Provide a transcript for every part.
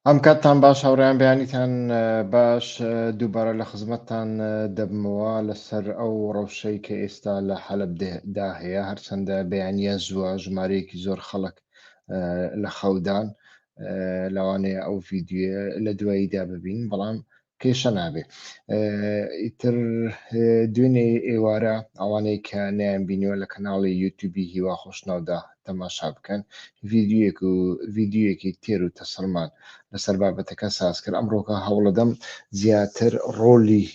ئەم کاتتان باش هاوڕیان بەیانیتان باش دووبارە لە خزمەتتان دەبمەوە لەسەر ئەو ڕەوشەی کە ئێستا لە حەلبدا هەیە هەرچەندە بەیانە زووە ژمارەیەکی زۆر خەڵک لە خەودان لەوانەیە ئەو ڤیددیوە لە دواییدا ببین بەڵام کێشە نابێ ئیتر دوێنێ ئێوارە ئەوانەی کە نیان بینیوە لە کەناڵی یوتوبی هیوا خۆشناودا تەماشا بکەن ڤیددیوەک و ڤیددیوەکی تێر و تەسەلمان لەسەر بابەتەکە ساز کرد ئەمڕۆکە هەوڵەدەم زیاتر ڕۆلی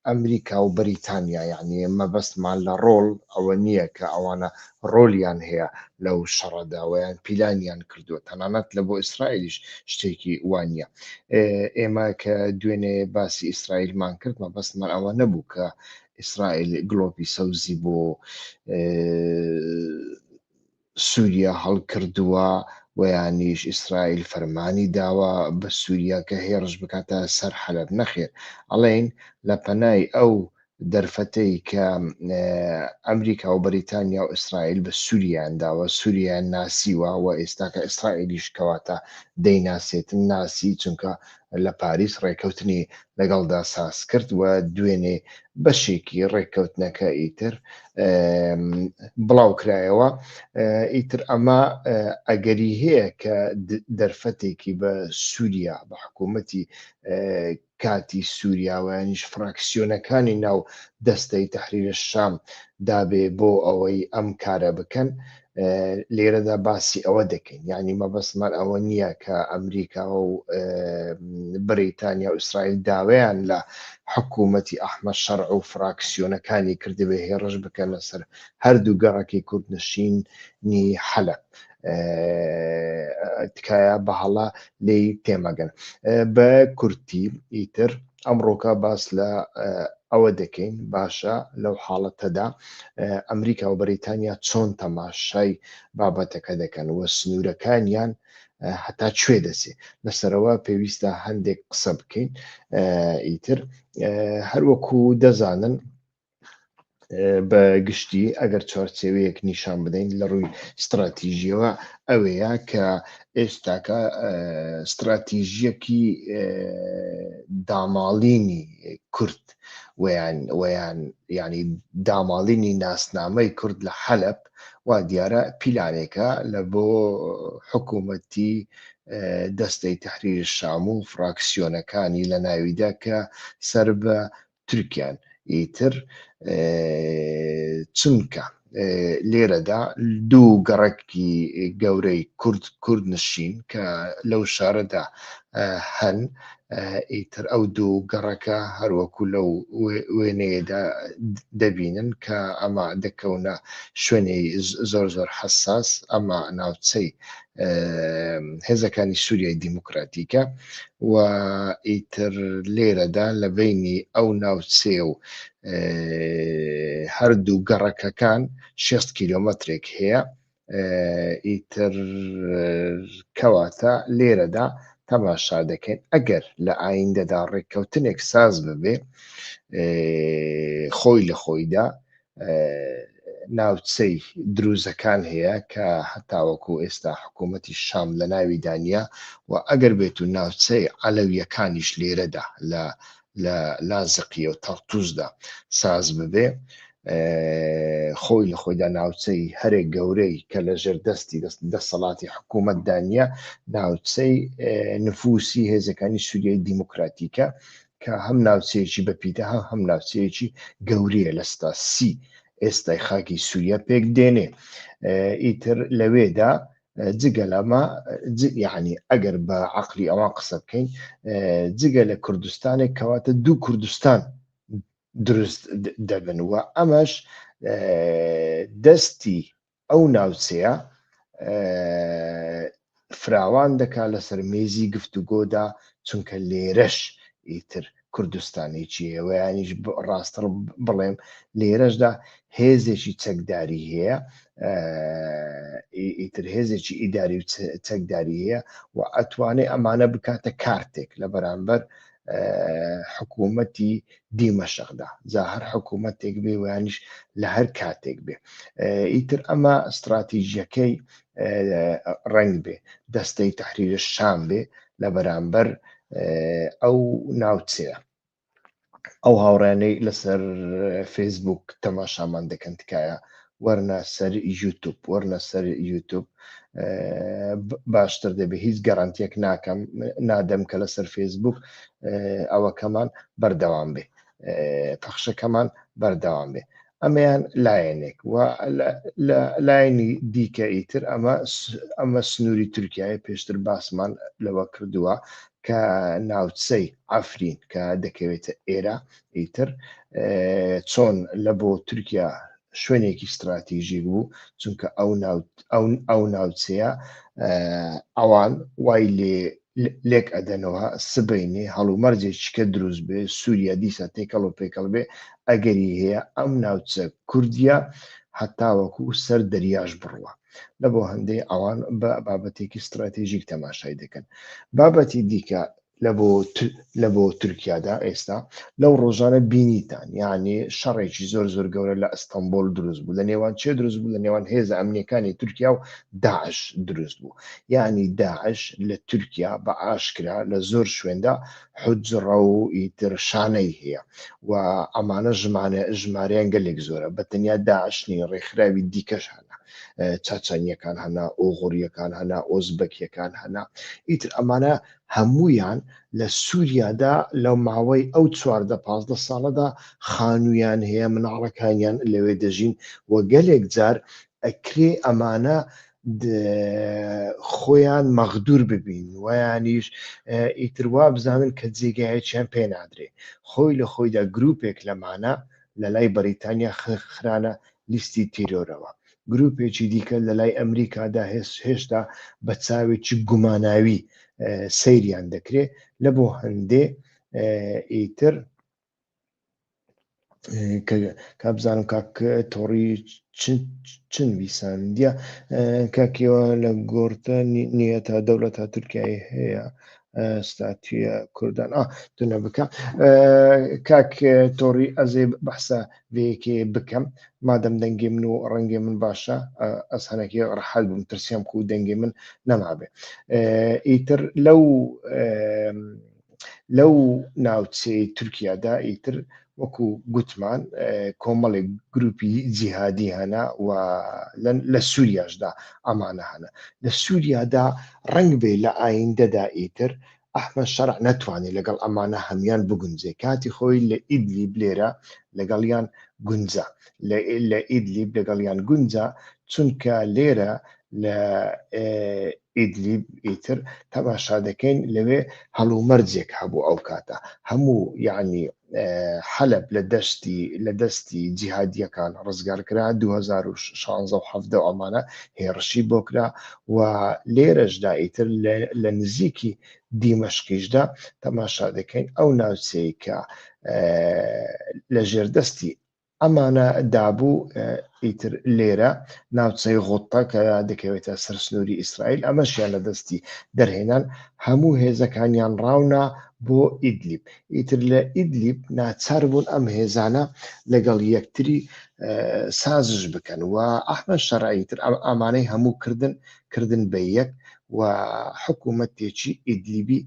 ئەمریکا و بەریتانیا یعنی مەبەستمان لە ڕۆڵ ئەوە نییە کە ئەوانە ڕۆلیان هەیە لەو شەڕەدا و یان پیلانیان کردووە تەنانەت لە بۆ ئیسرائیلیش شتێکی وا نییە ئێمە کە دوێنێ باسی ئیسرائیلمان کرد مەبەستمان ئەوە نەبوو کە ئیسرائیل گلۆپی سەوزی بۆ سووریا هەڵکردووە وەیانیش ئیسرائیل فەرمانی داوە بە سووریا کە هێڕش بکاتە سەر حەلب نەخێر ئەڵین لە پەنای ئەو دەرفەتەی کە ئەمریکا و بەریتانیا و ئیسرائیل بە سوریان داوە سوریان ناسیوە و ئێستاکە ئیسرائیلیش کەواتە دەیناسێتن ناسی چونکە لە پاریس ڕێکەوتنی لەگەڵدا ساز کرد و دوێنێ بەشێکی ڕێککەوتنەکە ئیتر بڵاو کرایەوە ئیتر ئەمە ئەگەری هەیە کە دەرفەتێکی بە سووریا بە حکوومەتی کاتی سوریا و یانیش فراکسیۆنەکانی ناو دەستەی تەحریر شام دابێ بۆ ئەوەی ئەم کارە بکەن لێرەدا باسی ئەوە دەکەین یعنی مەبەستمان ئەوە نییە کە ئەمریکا و بریتانیا و ئیسرائیل داویان لە حکوومەتی ئەحمە شەڕ و فراکسیۆنەکانی کردبێ هێڕش بکەن لەسەر هەردوو گەڕەکی کوردنشینی حەلب تکایە بەهەڵە لی تێمەگەن بە کورتی ئیتر ئەمڕۆکە باس لە ئەوە دەکەین باشە لەو حاڵەتەدا ئەمریکا و بەریتانیا چۆن تەماشای بابەتەکە دەکەن و سنوورەکانیان هەتا کوێ دەسێ لەسەرەوە پێویستە هەندێک قسە بکەین ئیتر هەروەکو دەزانن بە گشتی ئەگەر چوارچێوەیەک نیشان بدەین لە ڕووی ستراتیژیەوە ئەوەیە کە ئێستاکە ستراتیژیەکی داماڵینی کورد ویان ویان ینی داماڵینی ناسنامەی کورد لە حەلب وا دیارە پیلانێکە لە بۆ حکوومەتی دەستەی تحریر شام و فراکسیۆنەکانی لە ناویدا کە سەر بە تورکیان ئیتر چونکە لێرەدا دوو گەڕکی گەورەی کورد کورد نشین کە لەو شارەدا هەن ئیتر ئەو دوو گەڕەکە هەروەکو لەو وێنەیەدا دەبینن کە ئەمە دەکەونە شوێنی زۆر زۆر حساس ئەمە ناوچەی هێزەکانی سووریای دیموکراتیکە و ئیتر لێرەدا لە بینی ئەو ناوچێ و هەردوو گەڕەکەکان 6 کیلومترێک هەیە ئیتر کەواتە لێرەدا تەماشا دەکەین ئەگەر لە ئایندەدا ڕێککەوتنێک ساز ببێ خۆی لە خۆیدا ناوچەی دروزەکان هەیە کە هەتاوەکو ئێستا حکوومەتی شام لە ناوی دانە و ئەگەر بێت و ناوچەی عەلەویەکانیش لێرەدا لە لە لازقیە و تەڕتوزدا ساز ببێ خۆی لە خۆیدا ناوچەی هەرێک گەورەی کە لە ژێر دەستی دەست دەسەڵاتی حکوومەت دانە ناوچەی نفوسی هێزەکانی سووریای دیموکراتیکە کە هەم ناوچەیەکی بەپیتە هەم هەم ناوچەیەکی گەورەیە لە ستا سی ئێستای خاکی سووریا پێک دێنێ ئیتر لەوێدا جگە لەمە یعنی ئەگەر بە عقلی ئەوان قسە بکەین جگە لە کوردستانێک کەواتە دوو کوردستان دروست دەبن و ئەمەش دەستی ئەو ناوچەیە فراوان دەکات لەسەر مێزی گفتوگۆدا چونکە لێرەش ئیتر کوردستانێکی ئێوەیانیش ڕاستڕ بڵێم لێرەشدا هێزێکی چەکداری هەیە ئیتر هێزێکی ئیداری و چەکداری هەیە و ئەتوانێ ئەمانە بکاتە کارتێک لە بەرامبەر حکوومەتی دیمەشەخدا جا هەر حکوومەتێک بێ ویانیش لە هەر کاتێک بێ ئیتر ئەمە استراتیژیەکەی ڕنگ بێ دەستەی تحریرە شان بێ لە بەرامبەر ئەو ناوچەیە ئەو هاوڕێنەی لەسەر فەیسبوک تەماشامان دەکەن تکایە وەرنە سەر یوتوب وەرنە سەر یوتوب باشتر دەبێت هیچ گەڕانتێک ناکەم نادەم کە لەسەر فەیسبوک ئەوەکەمان بەردەوام بێ پەخشەکەمان بەردەوام بێ ئەمەیان لایەنێک و لایەنی دیکە ئیتر ئەمە ئەمە سنووری تورکایە پێشتر باسمان لەوە کردووە کە ناوچەی ئەفرین کە دەکەوێتە ئێرە ئیتر چۆن لە بۆ تورکیا شوێنێکی ستراتیژیک بوو چونکە ئەو ئەو ناوچەیە ئەوان وای لێ لێک ئەدەنەوە سبینێ هەڵومەرجێکیکە دروست بێ سووریا دیسە تێکەڵ و پێکەڵ بێ ئەگەری هەیە ئەم ناوچە کوردیا هەتاوەکو سەر دەریاش بڕوە لە بۆ هەندەی ئەوان بە بابەتێکی ستراتیژیک تەماشای دەکەن بابەتی دیکە لە بۆ تورکیادا ئێستا لەو ڕۆژانە بینیتان یانی شەڕێکی زۆر زۆر گەورە لە ئەستەمبۆل دروست بوو لە نێوان چێ دروست بوو لە نێوان هێزە ئەمنیەکانی تورکیا و داعش دروست بوو یانی داعش لە تورکیا بە ئاشکرا لە زۆر شوێندا حجڕە و ئیتر شانەی هەیە و ئەمانە ژمانە ژماریان گەلێک زۆرە بە تەنیا داعشنی ڕێکخراوی دیکەش هەن چاچانیەکان هەنا ئۆغوریەکان هەنا ئۆزبەکیەکان هەنا ئیتر ئەمانە هەموویان لە سوریادا لە ماوەی ئەو چواردە پازدە ساڵەدا خانوویان هەیە مناڵەکانیان لەوێ دەژین و گەلێک جار ئەکرێ ئەمانە خۆیان مەغدور ببین ویانیش ئیتر وا بزانن کە جێگایەکیان پێ نادرێ خۆی لە خۆیدا گرروپێک لەمانە لە لای بەریتانیا خرانە لیستی تیرۆرەوە گروپێکی دیکە لە لای ئەمریکادا هێشتا بە چاوێکی گوماناوی سەیریان دەکرێت لە بۆ هەندێ ئیتر کا بزانم کاک تۆڕی چن ویساندە کاکیەوە لە گۆرتە نیە تا دەوڵەت تا تورکایی هەیە ستاتە کوردان دونە بکە کاک تۆڕی ئەزێ بەحسە ڤێکێ بکەم مادەم دەنگێ من و ڕەنگێ من باشە ئەس هەنەکە ڕحەل بم ترسیام کو دەنگێ من نەمابێ ئیتر لەو لەو ناوچەی تورکیادا ئیتر وەکو گوتمان کۆمەڵێک گروپی جیهادی هەنا و لە سووریاشدا ئەمانە هەنە لە سووریادا ڕنگ بێ لە ئایندەدا ئیتر ئەحمەد شەرع نەتوانی لەگەڵ ئەمانە هەموان بگونجێ کاتی خۆی لە ئیدلیب لێرە لەگەڵیان گونجا لە ئیدلیب لەگەڵیان گونجا چونکە لێرە لە ئیدلیب ئیتر تەماشا دەکەین لەوێ هەڵومەرجێک هەبوو ئەو کاتە هەموو یعنی حەلب لە دەستی لە دەستی جیهادیەکان ڕزگارکرا 2016 و حەفدە و ئەمانە هێڕشی بۆ کرا و لێرەشدا ئیتر لە نزیکی دیمەشقیشدا تەماشا دەکەین ئەو ناوچەیە لە ژێردەستی ئەمانە دابوو، ئیتر لێرە ناوچەی غوتە کە دەکەوێتە سەر سنووری ئیسرائیل، ئەمەشیان لە دەستی دەرهێنان، هەموو هێزەکانیان ڕاونا بۆ ئیدلیب، ئیتر لە ئیدلیب ناچار بوون ئەم هێزانە لەگەڵ یەکتری سازش بکەن و ئەحمەد شەرع ئیتر ئەمانەی هەموو کردن کردن بە یەک و حکوومەتێکی ئیدلیبی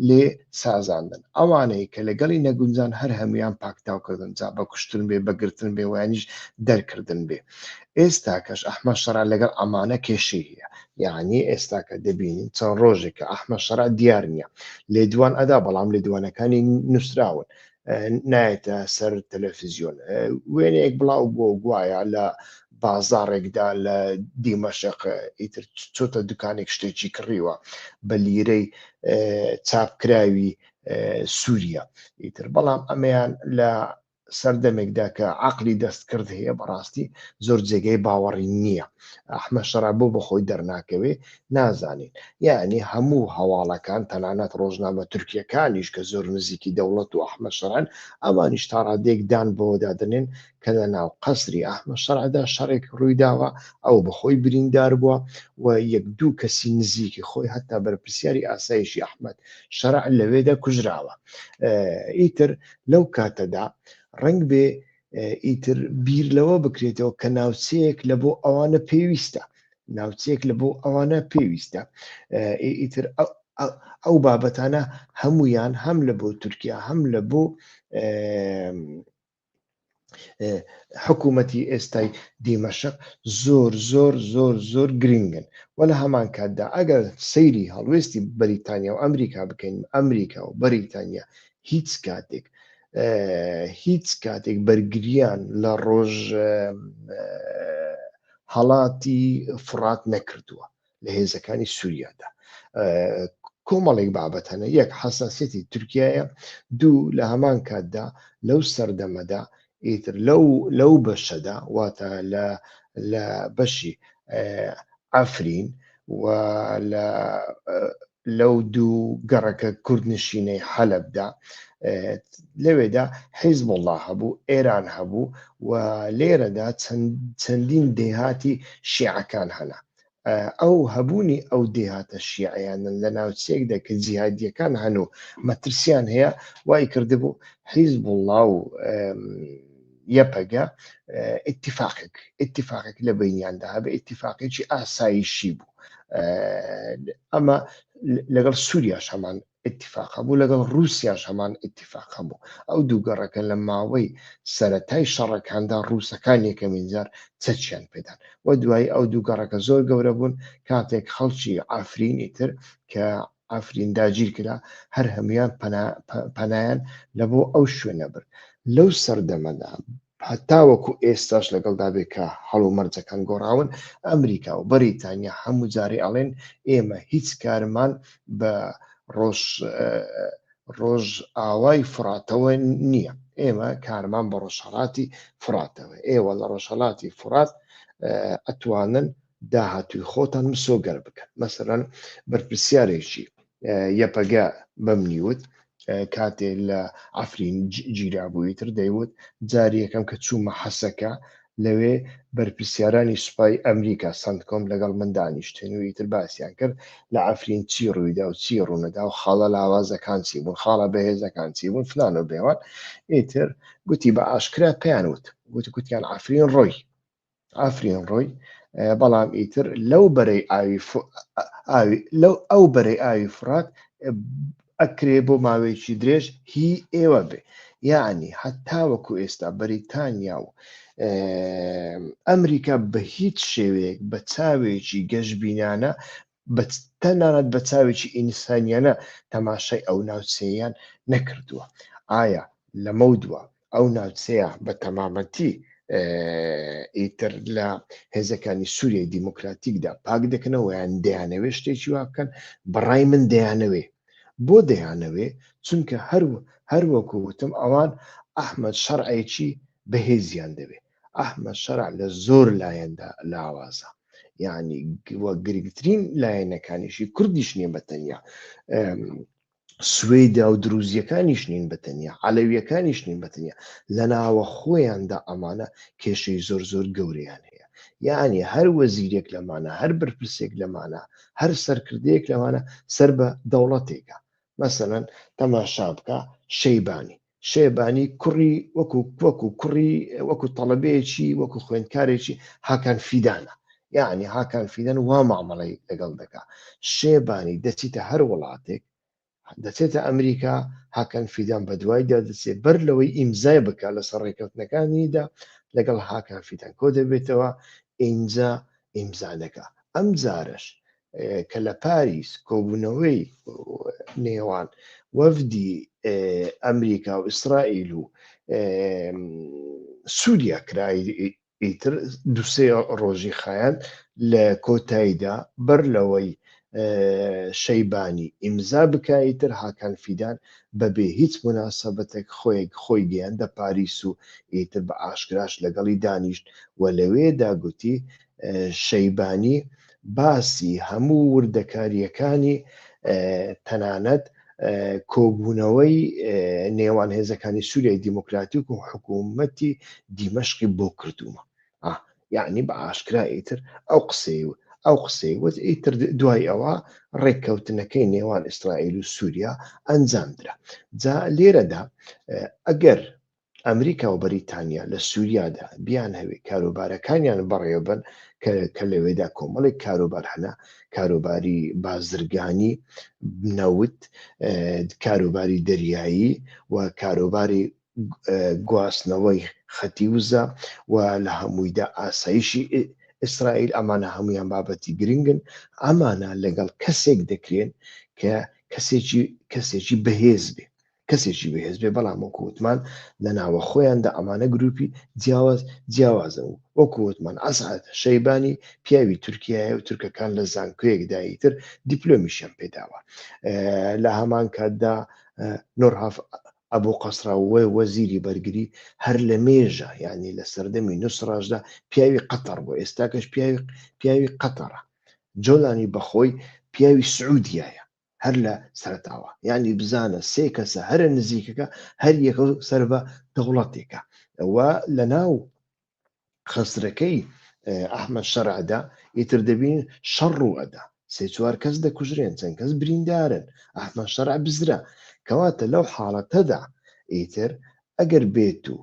لێ سازاندن ئەوانەی کە لەگەڵی نەگونجان هەر هەمویان پاکتاوکردن جا بە کوشتن بێ بەگرتن بێ وانیش دەرکردن بێ ئێستا کەش ئەحمە شەرا لەگەڵ ئەمانە کێشی هەیە یعنی ئێستا کە دەبینین چەند ڕۆژێکە ئەحمە شەرا دیار نییە لێدوان ئەدا بەڵام لێدوانەکانی نووسراون نایەتە سەر تەلەفزیۆن وێنەیەک بڵاو بۆ گوایە لە بازارێکدا لە دیمەشق ئیتر چۆتە دوکانێک شتێکی کڕیوە بە لیرەی چاپکراوی سووریا ئیتر بەڵام ئەمەیان لە سەردەمێکدا کە عقلی دەستکرد هەیە بەڕاستی زۆر جێگەی باوەڕی نییە ئەحمە شەرا بۆ بەخۆی دەرناکەوێ نازانین یەعنی هەموو هەواڵەکان تەنانەت ڕۆژنامە تورکیەکانیش کە زۆر نزیکی دەوڵەت و ئەحمەد شەرعن ئەوانیش تا ڕادەیەک دان بەوەدا دەنێن کە لە ناو قەسری ئەحمەد شەرعدا شەڕێک ڕوویداوە ئەو بەخۆی بریندار بووە و یەک دوو کەسی نزیکی خۆی هەتا بەرپرسیاری ئاسایشی ئەحمەد شەرع لەوێدا کوژراوە ئیتر لەو کاتەدا ڕنگ بێ ئیتر بیر لەوە بکرێتەوە کە ناوچەیەک لە بۆ ئەوانە پێویستە ناوچەیەک لە بۆ ئەوانە پێویستە ئیتر ئەو بابەتانە هەمویان هەم لە بۆ تورکیا هەم لە بۆ حکوومەتی ئێستای دیمەشق زۆر زۆر زۆر زۆر گرنگن و لە هەمان کاتدا ئەگەر سەیری هەڵوێستی بەریتانیا و ئەمریکا بکەین ئەمریکا و بەریتانیا هیچ کاتێک هیچ کاتێک بەرگریان لە ڕۆژ هەڵاتی فڕات نەکردووە لە هێزەکانی سووریادا کۆمەڵێک بابەت هەنە یەک حساسەتی تورکایە دوو لە هەمان کاتدا لەو سەردەمەدا ئیتر لەو لەو بەشەدا واتە لە لە بەشی ئەفرین و لە لەو دوو گەڕەکە کوردنشینەی حەلەبدا، لەوێدا حیزبوڵڵا هەبوو، ئێران هەبوو و لێرەدا چەندین دێهاتی شیعەکان هەنا. ئەو هەبوونی ئەو دێهاتە شیعەیانە لە ناوچەیەکدا کە جیهادییەکان هەن و مەترسییان هەیە، وای کردبوو حیزبوڵڵا و یەپەگە ئتیفاقێک ئتیفاقێک لە بینیاندا هەبێ ئتیفاقێکی ئاسایشی بوو ئەمە لەگەڵ سووریاش هەمان اتفاق بوو لەگەڵ رووسیاش هەمان اتفاق بوو ئەو دوو گەڕەکە لە ماوەی سەتای شەڕەکاندا رووسەکان یەکەمین جار چەچیان پێدان و دوای ئەو دوو گەڕەکە زۆر گەورە بوون کاتێک خەڵکی ئافرینی تر کە عەفرین داگیر کرا، هەر هەموویان پەنایان لە بۆ ئەو شوێنە برد. لەو سەردەمەدا هەتاوەکو ئێستاش لەگەڵدا بێ کە هەڵومەرجەکان گۆڕاون، ئەمریکا و بەریتانیا هەموو جارێ ئەڵێن ئێمە هیچ کارمان بە ڕۆژئاوای فڕاتەوە نییە، ئێمە کارمان بە ڕۆژهەڵاتی فڕاتەوە، ئێوە لە ڕۆژهەڵاتی فڕات ئەتوانن داهاتووی خۆتان مسۆگەر بکەن مەسەلەن بەرپرسیارێکی یەپەگە بەم نیوت کاتێ لە ئەفرین گیرابووی تر دەیوت جاری یەکەم کە چوومە حەسەکە لەوێ بەرپرسیارانی سوپای ئەمریکا سندکۆم لەگەڵ من دانیشتن و ئیتر باسییان کرد لە ئەفرین چی ڕوویدا و چی ڕوونەدا و خاڵە لاوازەکان چی بوون خاڵە بەهێزەکان چی بوون فلان و بێوان ئیتر گوتی بە ئاشکرا پێیان وت وت گوتیان ئەفرین ڕۆی ئافرین ڕۆی بەڵام ئیتر لەو بەرەی ئاوی ف... ئاوی لەو ئەو بەرەی ئاوی فرات ئەکرێ بۆ ماوەیەکی درێژ هی ئێوە بێ یعنی هەتا وەکو ئێستا بەریتانیا و ئەمریکا بە هیچ شێوەیەک بە چاوێکی گەشبینانە بە تەنانەت بە چاوێکی ئینسانیانە تەماشای ئەو ناوچەیەیان نەکردووە، ئایا لەمەو دوا ئەو ناوچەیە بە تەمامەتی ئیتر لە هێزەکانی سووریای دیموکراتیکدا پاک دەکەنەوە یان دەیانەوێ شتێکی وا بکەن بەڕای من دەیانەوێ بۆ دەیانەوێ چونکە هەر هەروەکو وتم ئەوان ئەحمد شەرعێکی بەهێزیان دەوێ ئەحمە شەرع لە زۆر لایەندا لاوازە یعنی گرنگترین لایەنەکانیشی کوردیش نیە بە تەنیا سوێدا و دروزیەکانیش نین بە تەنیا عەلەویەکانیش نین بە تەنیا لە ناوە خۆیاندا ئەمانە کێشەی زۆر زۆر گەوریان هەیە یعنی هەر وەزیرێک لەمانە هەر بەرپرسێک لەمانە هەر سەرکردەیەک لەمانە سەر بە دەوڵەتێکە مەسەەن تەماشا بکە شەیبانی شەیبانی کوڕی وەکو وەکو کوڕی وەکو تەڵەبەیەکی وەکو خوێندکارێکی هاکان فیدانە یعنی هاکان فیدەن وا مامەڵی لەگەڵ دەکا شێبانی دەچیتە هەر وڵاتێک دەچێتە ئەمریکا هاکەن فیدان بە دوای دەدەچێت بەر لەوەی ئیمزای بکە لەسەر ڕێکەوتنەکانیدا لەگەڵ هاکان فیدان کۆ دەبێتەوە ئینجا ئیمزانەکە ئەم جارش کە لە پاریس کۆبوونەوەی نێوان وەفدی ئەمریکا و ئیسرائیل و سووریا کرایی ئیتر دوسێ ڕۆژی خایەن لە کۆتاییدا بەر لەوەی شەیبانی ئیمزا بکایی تر هاکان فیدان بەبێ هیچ مناسەبەتێک خۆیەک خۆی گەیاندە پاریس و ئیتر بە ئاشکراش لەگەڵی دانیشت و لەوێدا گوتی شەیبانی باسی هەموو وردەکارییەکانی تەنانەت کۆبوونەوەی نێوان هێزەکانی سووریای دیموکراتیک و حکوومەتی دیمەشقی بۆ کردوومە یعنی بە ئاشکرا ئیتر ئەو قسەی و ئەو قسەی وت ئیتر دوای ئەوە ڕێککەوتنەکەی نێوان ئیسرائیل و سووریا ئەنجام درا جا لێرەدا ئەگەر ئەمریکا و بەریتانیا لە سوریادا بیانهەوێ کاروبارەکانیان بەڕێوەبەن کە کە لەوێدا کۆمەڵێک کاروبار هەنە کاروباری بازرگانی نەوت کاروباری دەریایی و کاروباری گواستنەوەی خەتی وزە و لە هەموویدا ئاسایشی ئیسرائیل ئەمانە هەمویان بابەتی گرنگن ئەمانە لەگەڵ کەسێک دەکرێن کە کەسێکی کەسێکی بەهێز بێ کەسێکی بەهێز بێ بەڵام وەکو وتمان لە ناوە خۆیاندا ئەمانە گروپی جیاواز جیاوازە و وەکو وتمان ئەسعد شەیبانی پیاوی تورکیایە و تورکەکان لە زانکۆیەکدایی تر دیپلۆمیشیان پێداوە لە هەمان کاتدا نۆرهاف ئەبوو قەسراوە وەزیری بەرگری هەر لە مێژە یعنی لە سەردەمی نووسڕاشدا پیاوی قەتەڕ بۆ ئێستاکەش پیاوی پیاوی قەتەڕە جۆلانی بەخۆی پیاوی سعودیایە هەر لە سەرتاوە یعنی بزانە سێ کەسە هەرە نزیکەکە هەر یەکە سەر بە دەوڵەتێکە ئەوە لە ناو خەسرەکەی ئەحمە شەرعدا ئیتر دەبین شەڕ و ئەدا سێ چوار کەس دەکوژرێن چەند کەس بریندارن ئەحمە شەرع بزرا کەواتە لەو حاڵەتەدا ئیتر ئەگەر بێت و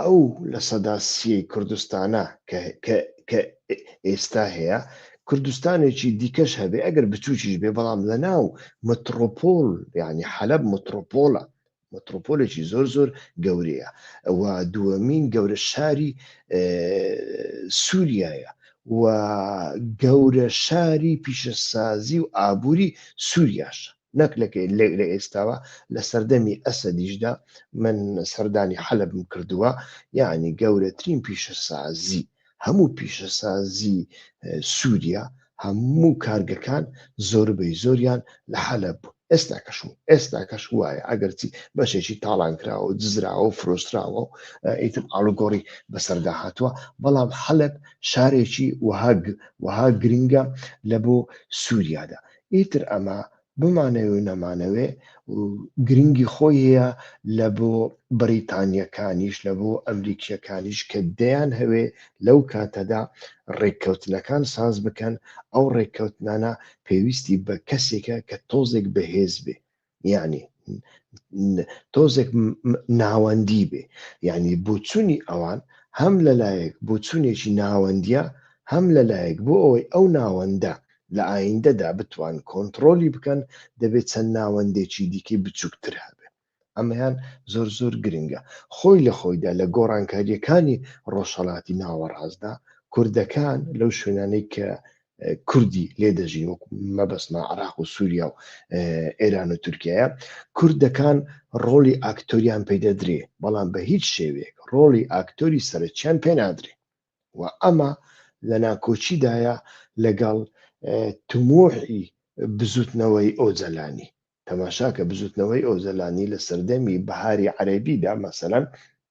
ئەو لە سەدا سییەی کوردستانە کە ئێستا هەیە، کوردستانێکی دیکەش هەبێ، ئەگەر بچووکیش بێ، بەڵام لە ناو متڕۆپۆل، یانی حەلەب متڕۆپۆلە، متڕۆپۆلێکی زۆر زۆر گەورەیە و دووەمین گەورە شاری سووریایە و گەورە شاری پیشەسازی و ئابووری سووریاشە. نەک لە لە ئێستاوە لە سەردەمی ئەسەدیشدا من سەردانی حەلبم کردووە یعنی گەورەترین پیشەسازی هەموو پیشەسازی سووریا هەموو کارگەکان زۆربەی زۆریان لە حەلە بوو ئێستا کەشم ئێستا کەش وایە ئەگەرچی بەشێکی تاڵان کراوە و دزراوە و فرۆستراوە و ئیتم ئاڵوگۆڕی بەسەردا هاتووە بەڵام حەلب شارێکی وهاگ وها گرنگە لە بۆ سووریادا ئیتر ئەمە بمانەوێ و نەمانەوێ گرنگی خۆی هەیە لە بۆ بەریتانییەکانیش لە بۆ ئەمریکییەکانیش کە دەیان هەوێ لەو کاتەدا ڕێککەوتنەکان ساز بکەن ئەو ڕێککەوتنانە پێویستی بە کەسێکە کە تۆزێک بەهێز بێ یعنی تۆزێک ناوەندی بێ یعنی بۆچوونی ئەوان هەم لەلایەک بۆچوونێکی ناوەندە هەم لەلایەک بۆ ئەوەی ئەو ناوەندە لە ئایندەدا بتوان کۆنتترۆلی بکەن دەبێت چەند ناوەندێکی دیکەی بچووکتر هەبێ ئەمەیان زۆر زۆر گرنگە خۆی لە خۆیدا لە گۆڕانکاریەکانی ڕۆژهڵاتی ناوەڕاستدا کوردەکان لەو شوێنانەی کە کوردی لێ دەژین وەک مەبەستمە عراق و سووریا و ئێران و تورکایە کوردەکان ڕۆڵی ئاکتۆریان پێدەدرێ بەڵام بە هیچ شێوێک ڕۆڵی ئاکتۆری سەرچیان پێنادرێ و ئەمە لە ناکۆچیدایە لەگەڵ تموحی بزوتنەوەی ئۆجەلانی تەماشاکە بزوتنەوەی ئۆزەلانی لە سەردەمی بەهاری عەربیدا مەسەەن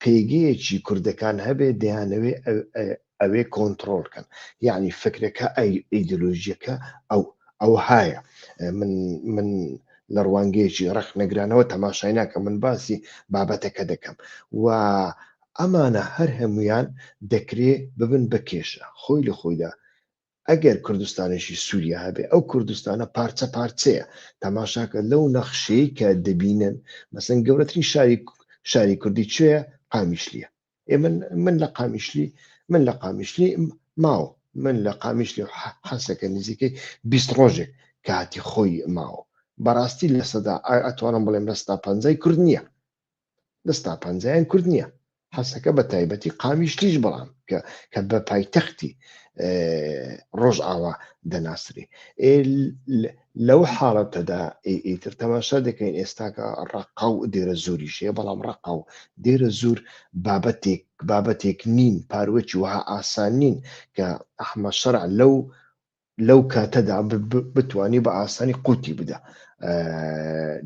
پێگەیەکی کوردەکان هەبێ دەیانەوێ ئەوێ کۆنتڕۆڵ کەن یانی فکرەکە ئەیدۆلۆژیەکە ئەو ئەوهایە من من لە ڕوانگەیەکی ڕەخنەگرانەوە تەماشای ناکەم من باسی بابەتەکە دەکەم و ئەمانە هەر هەمویان دەکرێ ببن بە کێشە خۆی لە خۆیدا ئەگەر کوردستانێکی سوریا هەبێ ئەو کوردستانە پارچە پارچەیە تەماشاکە لەو نەخشەی کە دەبینن مەسەن گەورەترین شاری شاری کوردی کوێە قامیشلیە ئێ من من لە قامیشلی من لە قامیشلی ماوە من لە قامیشلی حەسەکە نزیکەی بیست ڕۆژێک کاتی خۆی ماوە بەڕاستی لە سەدا ئەتوانم بڵێم لە ستا پەنجای کورد نییە دەستا پەنجەیان کورت نییە حەسەکە بە تایبەتی قامیشتیش بەڵام کە کە بە پایتەختی ڕۆژ ئاوا دەناسرێ لەو حاڵەتەدا ئیتر تەماشا دەکەین ئێستاکە ڕقا و دێرە زۆری شێ بەڵام ڕقا و دێرە زۆر بابەتێک بابەتێک نین پاروەکی وها ئاسان نین کە ئەحمە شەرع لەو لەو کاتەدا بتانی بە ئاسانی قوتی بدا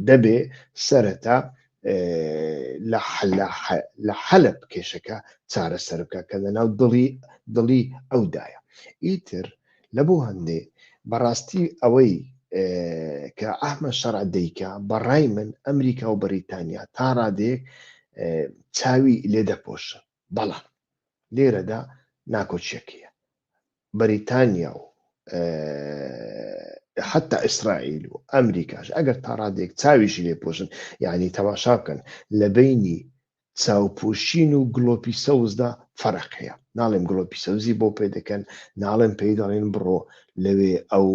دەبێ سەرەتا لە حەلب کێشەکە چارەسەر بکە کە لە ناو دڵی دڵی ئەودایە ئیتر لە بۆ هەندێ بەڕاستی ئەوەی کە ئەحمە شەڕ دەیکە بەڕای من ئەمریکا و بەریتانیا تا ڕادێک چاوی لێ دەپۆشن بەڵام لێرەدا ناکۆکیەک هەیە بەریتانیا و حتا ئیسرائیل و ئەمریکاش ئەگەر تاڕادێک چاویشی لێ پۆشن یعنی تەماشا بکەن لە بینی چاوپۆشین و گلۆپی سەوزدا فەرق هەیە ناڵێم گلۆپی سەوزی بۆ پێ دەکەن ناڵێم پێی دەڵێن بڕۆ لەوێ ئەو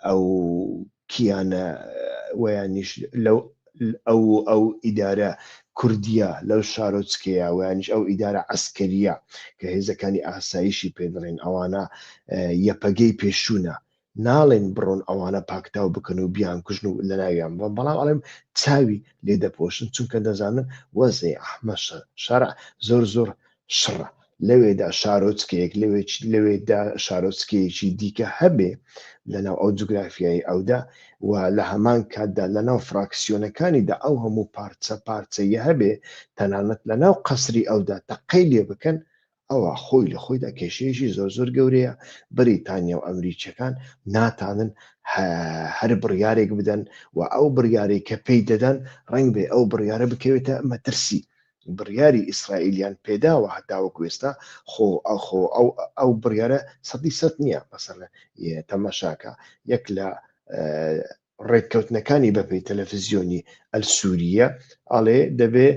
ئەو کیانە وەیانیش لەو ئەو و ئەو ئیدارە کوردییە لەو شارۆچکەیە وەیانیش ئەو ئیدارە عەسکەرییە کە هێزەکانی ئاسایشی پێ دەڵێن ئەوانە یەپەگەی پێشوونە ناڵێن بڕۆن ئەوانە پاکتاو بکەن و بیانکوژن و لەناویان بڕۆن بەڵام ئەڵێم چاوی لێ دەپۆشن چونکە دەزانن وەزعی ئەحمە شەرع زۆر زۆر شڕە، لەوێدا شارۆچکەیەک، لەوێدا شارۆچکەیەکی دیکە هەبێ لەناو ئەو جوگرافیای ئەودا و لە هەمان کاتدا لەناو فراکسیۆنەکانیدا ئەو هەموو پارچە پارچەیە هەبێ، تەنانەت لەناو قەسری ئەودا تەقەی لێ بکەن، ئەوا خۆی لە خۆیدا کێشەیەکی زۆر زۆر گەورەیە، بریتانیا و ئەمریکییەکان ناتانن هەر بڕیارێک بدەن و ئەو بڕیارەی کە پێی دەدەن ڕەنگبێ ئەو بڕیارە بکەوێتە مەترسی بڕیاری ئیسرائیلیان پێداوە هەتاوەکو ئێستا خۆ ئەخۆ ئەو ئەو بڕیارە سەدی سەد نییە بەسەر تەمەشاکە یەک لە ڕێککەوتنەکانی بەپی تەلەفزیۆنی ئەل سووریە ئاڵێ دەبێ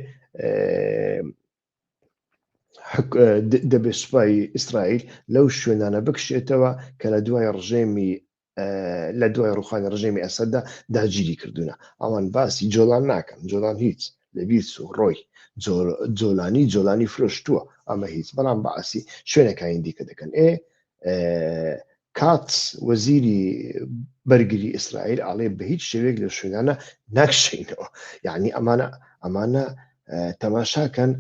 دەبێ سوپای ئیسرائیل لەو شوێنانە بکشێتەوە کە لە دوای ڕژێمی لە دوای ڕوخانی ڕژێمی ئەسەددا داگیری کردوونە ئەوان باسی جۆلان ناکەن جۆلان هیچ لە بیرس و ڕۆی جۆلانی جۆلانی فرۆشتووە ئەمە هیچ بەڵام باسی شوێنەکانی دیکە دەکەن ئێ کات وەزیری بەرگری ئیسرائیل ئاڵێ بە هیچ شێوێک لە شوێنانە ناکشینەوە یعنی ئەمانە ئەمانە تەماشاکەن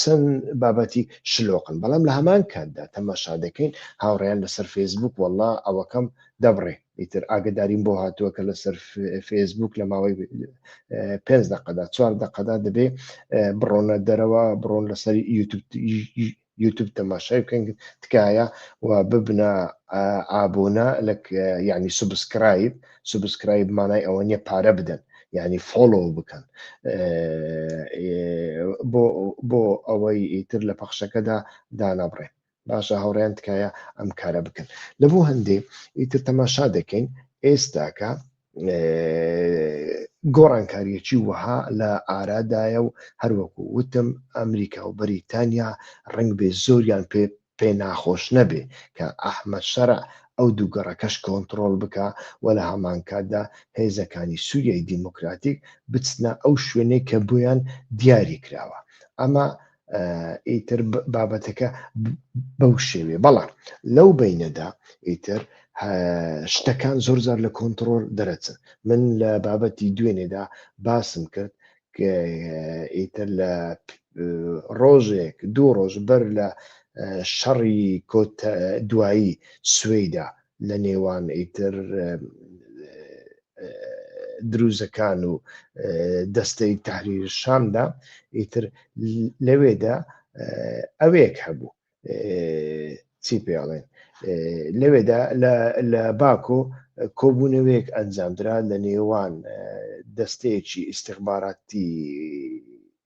چەند بابەتی شلۆقن بەڵام لە هەمان کاتدا تەماشا دەکەین هاوڕیان لەسەر فەیسبوک وەڵا ئەوەکەم دەبڕێ ئیتر ئاگداریم بۆ هاتووە کە لەسەر فەیسبوک لە ماوەی پێ دقەدا چوار دقەدا دەبێ بڕۆنە دەرەوە بڕۆن لەسەر یوتوب یوتوب تەماشای بکەن تکایە و ببنە ئابوونە لە یعنی سوبسکرایب سوبسکرایب مانای ئەوە نیە پارە بدەن یعنی فۆلۆ بکەن بۆ بۆ ئەوەی ئیتر لە پەخشەکەدا دانابڕێن باشە هاوڕیان تکایە ئەم کارە بکەن لە بۆ هەندێ ئیتر تەماشا دەکەین ئێستاکە گۆڕانکاریەکی وەها لە ئارادایە و هەروەکو وتم ئەمریکا و بەریتانیا ڕنگ بێ زۆریان پێ پێ ناخۆش نەبێ کە ئەحمەد شەرع ئەو دوو گەڕەکەش کۆنتڕۆل بکە و لە هەمانکاتدا هێزەکانی سووریای دیموکراتیک بچنە ئەو شوێنەی کە بۆیان دیاری کراوە ئەمە ئیتر بابەتەکە بەو شێوێ بەڵام لەو بینەدا ئیتر شتەکان زۆر زار لە کۆنتترۆل دەرەچن من لە بابەتی دوێنێدا باسم کرد ئیتر لە ڕۆژێک دوو ڕۆژ بەر لە شەڕی کۆت دوایی سوێدا لە نێوان ئیتر دروزەکان و دەستەی تحریر شامدا ئیتر لەوێدا ئەوێک هەبوو چی پێڵێن لەوێدا لە باکۆ کۆبوونەوەیەک ئەنجامدرا لە نێوان دەستەیەکی ئیسیخباراتی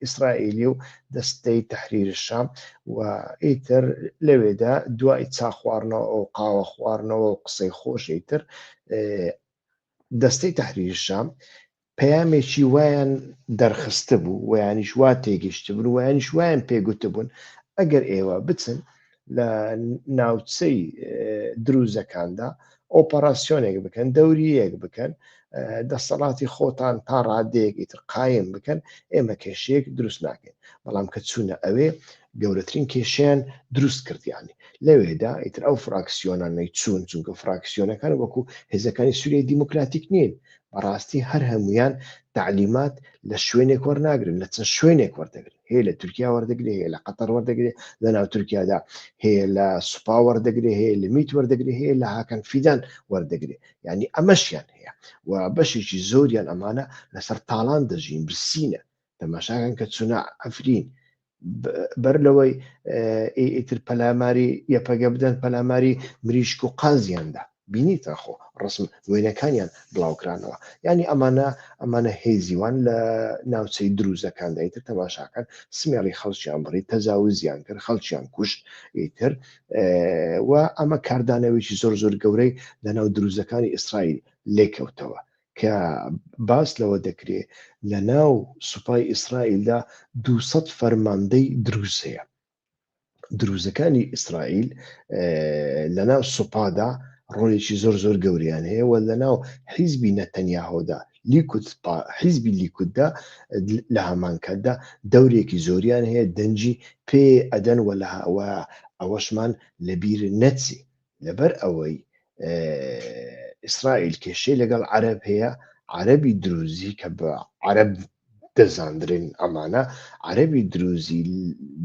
ئیسرائیلی و دەستەی تەحریر شام و ئیتر لەوێدا دوای چا خواردنەوە و قاوە خواردنەوە و قسەی خۆش ئیتر دەستەی تەحریر شام پەیامێکی وایان دەرخست بوو ویانیش وا تێگەشت بوون ویانیش وایان پێگوت بوون ئەگەر ئێوە بچن لە ناوچەی دروزەکاندا ئۆپەراسسیۆنێک بکەن دەوریەک بکەن دەسەڵاتی خۆتان تا ڕادەیەک ئیتر قایم بکەن ئێمە کێشەیەک دروست ناکەین بەڵام کە چوونە ئەوێ گەورەترین کێشیان دروست کردیانی لەوێدا ئیتر ئەو فراکسیۆنانەی چوون چونکە فراکسیۆنەکان وەکو هێزەکانی سووری دیموکراتیک نین بەڕاستی هەر هەمویان تعلیمات لە شوێنێک وەرناگرن لە چەند شوێنێک وەردەگرن هەیە لە تورکیا وەردەگرێ هەیە لە قەتەر وەردەگرێ لە ناو تورکیادا هەیە لە سوپا وەردەگرێ هەیە لە میت وەردەگرێ هەیە لە هاکەن فیدان وەردەگرێ ینی ئەمەشیان هەیە و بەشێکی زۆریان ئەمانە لەسەر تاالان دەژین برسینە تەماشاگەن کە چونا ئەفرین بەر لەوەی ئیتر پەلاماری یەپەگە بدەن پەلاماری مریشک و قازیاندا بینیت ئاخۆ ڕەسم وێنەکانیان بڵاوکرانەوە یانی ئەمانە ئەمانە هێزیوان لە ناوچەی دروزەکاندا ئیتر تەماشاکەن سمێڵی خەڵکیان بڕی تەجاوزیان کرد خەڵکیان کوشت ئیتر و ئەمە کاردانەوەیکی زۆر زۆر گەورەی لەناو دروزەکانی ئیسرائیل لێکەوتەوە کە باس لەوە دەکرێت لە ناو سوپای ئیسرائیلدا 200 فەرماندەی دروز هەیە دروزەکانی ئیسرائیل لەناو سوپادا ڕۆلێکی زۆر زۆر گەوریان هەیە و لەناو حیزبی نەتەنیاهۆدا لیکوت حیزبی لیکوتدا لە هەمان کاتدا دەورێکی زۆریان هەیە دەنجی پێ ئەدەن وە لە ئەوەشمان لەبیر نەچی لەبەر ئەوەی ئیسرائیل کێشەی لەگەڵ عەرب هەیە عەربی دروزی کە بە عەرب دەزاندرێن ئەمانە عەربی دروزی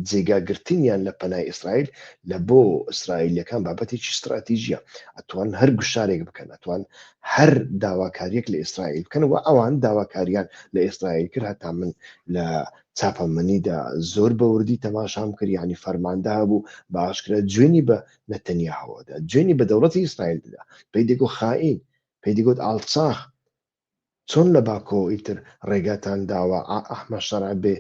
جێگاگرتنیان لە پەنای ئیسرائیل لە بۆ ئیسرائیلەکان بابەتێکی استراتیژیە ئەتوان هەر گوشارێک بکەن ئەتوان هەر داواکاریەک لە ئیسرائیل بکەن و ئەوان داواکاریان لە ئیسرائیل کرد هەتا من لە چاپەمەنیدا زۆر بەوردی تەماشام کرد ینی فەرماندە بوو باشکرە جوێنی بە نەتەنیاهۆ دا جوێنی بە دەوڵەتی ئیسرائیل دەدا پێی دەگۆ خائین پێی دەگۆت ئاڵچاخ چۆن لە باکۆ ئیتر ڕێگاتان داوە ئەحمە شەرع بێ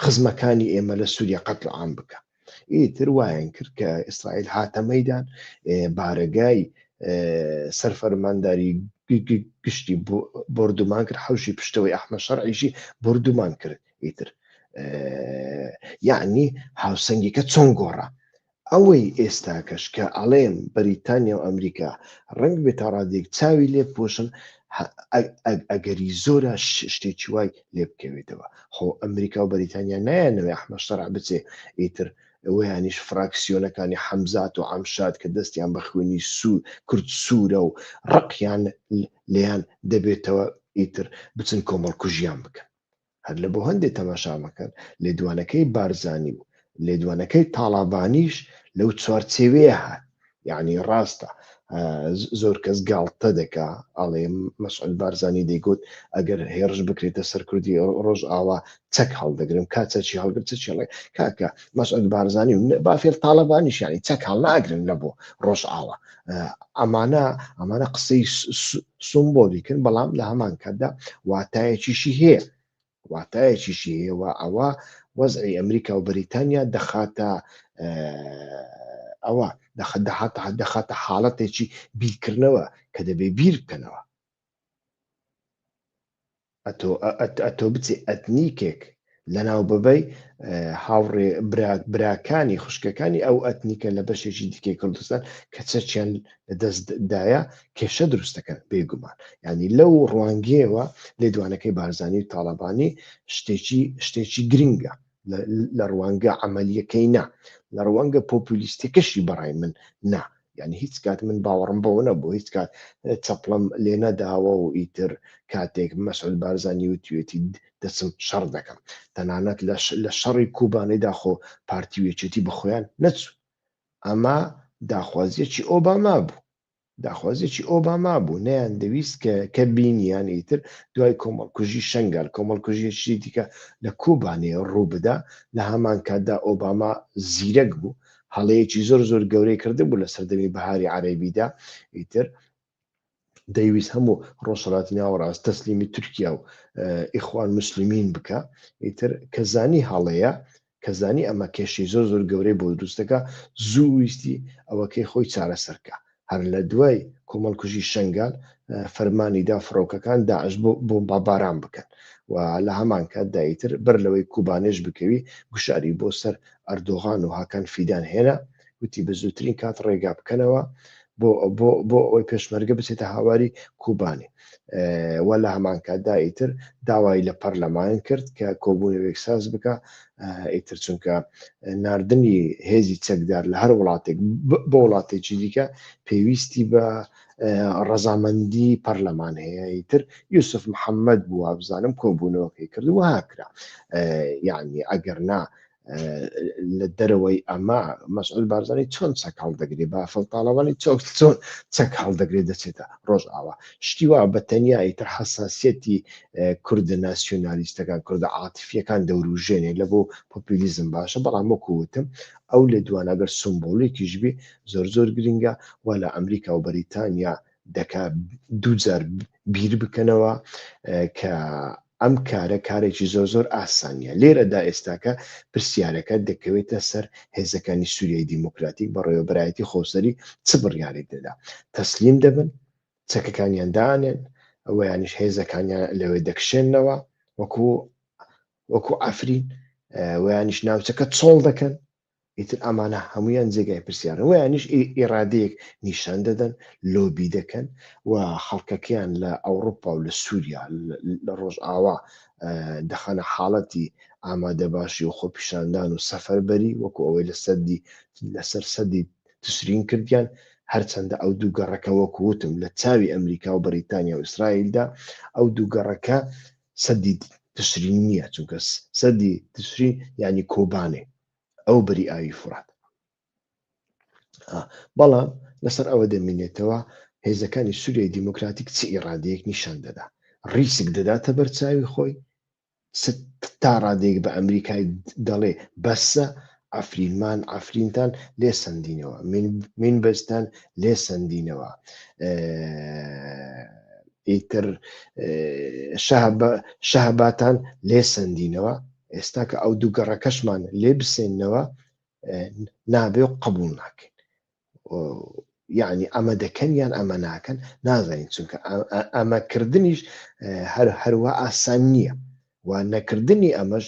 خزمەکانی ئێمە لە سووریە قەتل عام بکە ئیتر وایان کرد کە ئیسرائیل هاتە مەدان بارەگای سەرفەرمانداری گشتی بردومان کرد حوشی پشتەوەی ئەحمە شەرعیشی بردومان کرد ئیتر یعنی هاوسەنگیکە چۆن گۆڕە ئەوەی ئێستا کەش کە ئەڵێم بەریتانیا و ئەمریکا ڕنگ بێت تا ڕادێک چاوی لێ پۆشن ئەگەری زۆرە شتێکی وای لێ بکەوێتەوە خۆ ئەمریکا و بەریتانیا نایەنەوەی ئەحمەشتەرا بچێ ئیتر ئەویانیش فراکسیۆنەکانی حەمزات و ئەمشاد کە دەستیان بە خوێنی سوور کورد سوورە و ڕقیان لیان دەبێتەوە ئیتر بچن کۆمەڵکوژیان بکەن هەر لە بۆ هەندێ تەماشا مەکەن لێدوانەکەی بارزانی و لێدوانەکەی تاڵابانیش لەو چوارچێوەیە هات یعنی ڕاستە زۆر کەس گاڵتە دەکا ئاڵێ مەسعود بارزانانی دەیگوت ئەگەر هێرش بکرێتە سەر کوردی ڕۆژ ئاوا چەک هەڵدەگرم کا چەچی هەڵگر چ چڵێ کاکە مەسعود بارزانانی و بافێر تاالبانیشانی چەک هەڵناگرن لە بۆ ڕۆژ ئاوا ئەمانە ئەمانە قسەی سمبۆلیکن بەڵام لە هەمان کاتدا واتایەکیشی هەیە واتایەکیشی هەیەوە ئەوە وەزعی ئەمریکا و بەریتانیا دەخاتە ئەوە دەخدەهاتە دەخاتە حاڵەتێکی بیرکردنەوە کە دەبێ بیر بکەنەوە ئەتۆ ئەت ئەتۆ بچێ ئەتنیکێک لەناو ببەی هاوڕێ براکانی خوشکەکانی ئەو ئەتنیکە لە بەشێکی دیکەی کوردستان کە چەچیان دەستدایە کێشە دروستەکەن بێگومان ینی لەو ڕوانگەوە لێدوانەکەی بارزانانی و تاالبانی شتێکی شتێکی گرنگە لە ڕوانگە عملیەکەی نا لە ڕوانگە پۆپولیستەکەشی بەڕای من نا یعنی هیچ کات من باوەڕم بەوە نەبوو هیچ کات چەپڵم لێ نەداوە و ئیتر کاتێک مەسعود بارزانانی و توێتی دەچم شەڕ دەکەم تەنانەت لە شەڕی کوبانەی داخۆ پارتی وێچێتی بە خۆیان نەچوو ئەمە داخوازیەکی ئۆباما بوو داخوازیەکی ئۆباما بوو نەیان دەویست کە کە بینیان ئیتر دوای کۆمەڵکوژی شەنگال کۆمەڵکوژیەکی دیکە لە کوبانێ ڕووبدا لە هەمان کاتدا ئۆباما زیرەک بوو هەڵەیەکی زۆر زۆر گەورەی کردبوو لە سەردەمی بەهاری عەرەبیدا ئیتر دەیویست هەموو ڕۆژهەڵاتی ناوەڕاست تەسلیمی تورکیا و ئیخوان مسلمین بکە ئیتر کە زانی هەڵەیە کە زانی ئەمە کێشەی زۆر زۆر گەورەی بۆ دروست دەکا، زوو ویستی ئەوەکەی خۆی چارەسەر کا. هەر لە دوای کۆمەڵکوژی شەنگال فەرمانی دا فڕۆکەکان داعش بۆ بۆمباباران بکەن و لە هەمان کاتدا ئیتر بەر لەوەی کوبانێش بکەوی گوشاری بۆ سەر ئەردۆغان و هاکان فیدان هێنا، وتی بە زووترین کات ڕێگا بکەنەوە بۆ ئەوەی پێشمەرگە بچێتە هاواری کوبانی وە لە هەمانکاتدا ئیتر داوای لە پەرلەمان کرد کە کۆبوونەوەێک ساز بکە ئیتر چونکە نردنی هێزی چەکدار لە هەر وڵاتێک بە وڵاتێکی دیکە پێویستی بە ڕەزامەندی پەرلەمان هەیە ئیتر یوسف محەممەد بووە بزانم کۆبوونەوەکەی کرد و هاکرا یعنی ئەگەر نا لە دەرەوەی ئەما مەسعود بارزانانی چۆن چەک هەڵدەگرێ بافڵ تاڵەوانی چۆک چۆن چەک هەڵدەگرێت دەچێتە ڕۆژ ئاوا شتی وا بە تەنیایی تر حساسەتی کوردە ناسیۆنالیستەکان کوردە عاتفیەکان دەوروژێنێ لە بۆ پۆپیلیزم باشە بەڵام وەکوتم ئەو لە دوانەگەر سمبولێکیشبی زۆر زۆر گرنگە و لە ئەمریکا و بەریتانیا دەکات دووجار بیر بکەنەوە کە ئەم کارە کارێکی زۆر زۆر ئاسانە. لێرەدا ئێستاکە پرسیارەکە دەکەوێتە سەر هێزەکانی سوریای دیموکراتیک بەڕێوەبەرایەتی خۆسەری چ بڕیارێک دەدا؟ تەسلیم دەبن؟ چەکەکانیان دائەنێن؟ ئەوەیانیش هێزەکانیان لەوێ دەکشێننەوە وەکو وەکو عەفرین؟ ئەوەیانیش ناوچەکە چۆڵ دەکەن؟ ئیتر ئەمانە هەموویان جێگای پرسیارن وەیانیش ئیرادەیەک نیشان دەدەن لۆبی دەکەن و خەڵکەکەیان لە ئەوروپا و لە سووریا لە ڕۆژئاوا دەخەنە حاڵەتی ئامادە باشی و خۆپیشاندان و سەفەربەری وەکو ئەوەی لە سەدی لەسەر سەدی تسرین کردیان هەرچەندە ئەو دوو گەڕەکە وەکو وتم لە چاوی ئەمریکا و بەریتانیا و ئیسرائیلدا ئەو دوو گەڕەکە سەدی تشرین نییە، چونکە سەدی تشرین یانی کۆبانێ، ئەو بەری ئاوی فورات. بەڵام لەسەر ئەوە دەمینێتەوە هێزەکانی سووریای دیموکراتیک چ ئیرادەیەک نیشان دەدا ڕیسک دەداتە بەرچاوی خۆی تا ڕادێک بە ئەمریکای دەڵێ بەسە عەفرین مان عەفرینتان لێ سەندینەوە مین مین بەزتان لێ سەندینەوە ئیتر شەهباتان لێ سەندینەوە ئێستا کە ئەو دوو گەڕەکەشمان لێ بسێنەوە نابێ و قبول ناکەین یعنی ئەمە دەکەن یان ئەمە ناکەن نازانین چونکە ئەمە کردنیش هەر هەروە ئاسان نییە و نەکردنی ئەمەش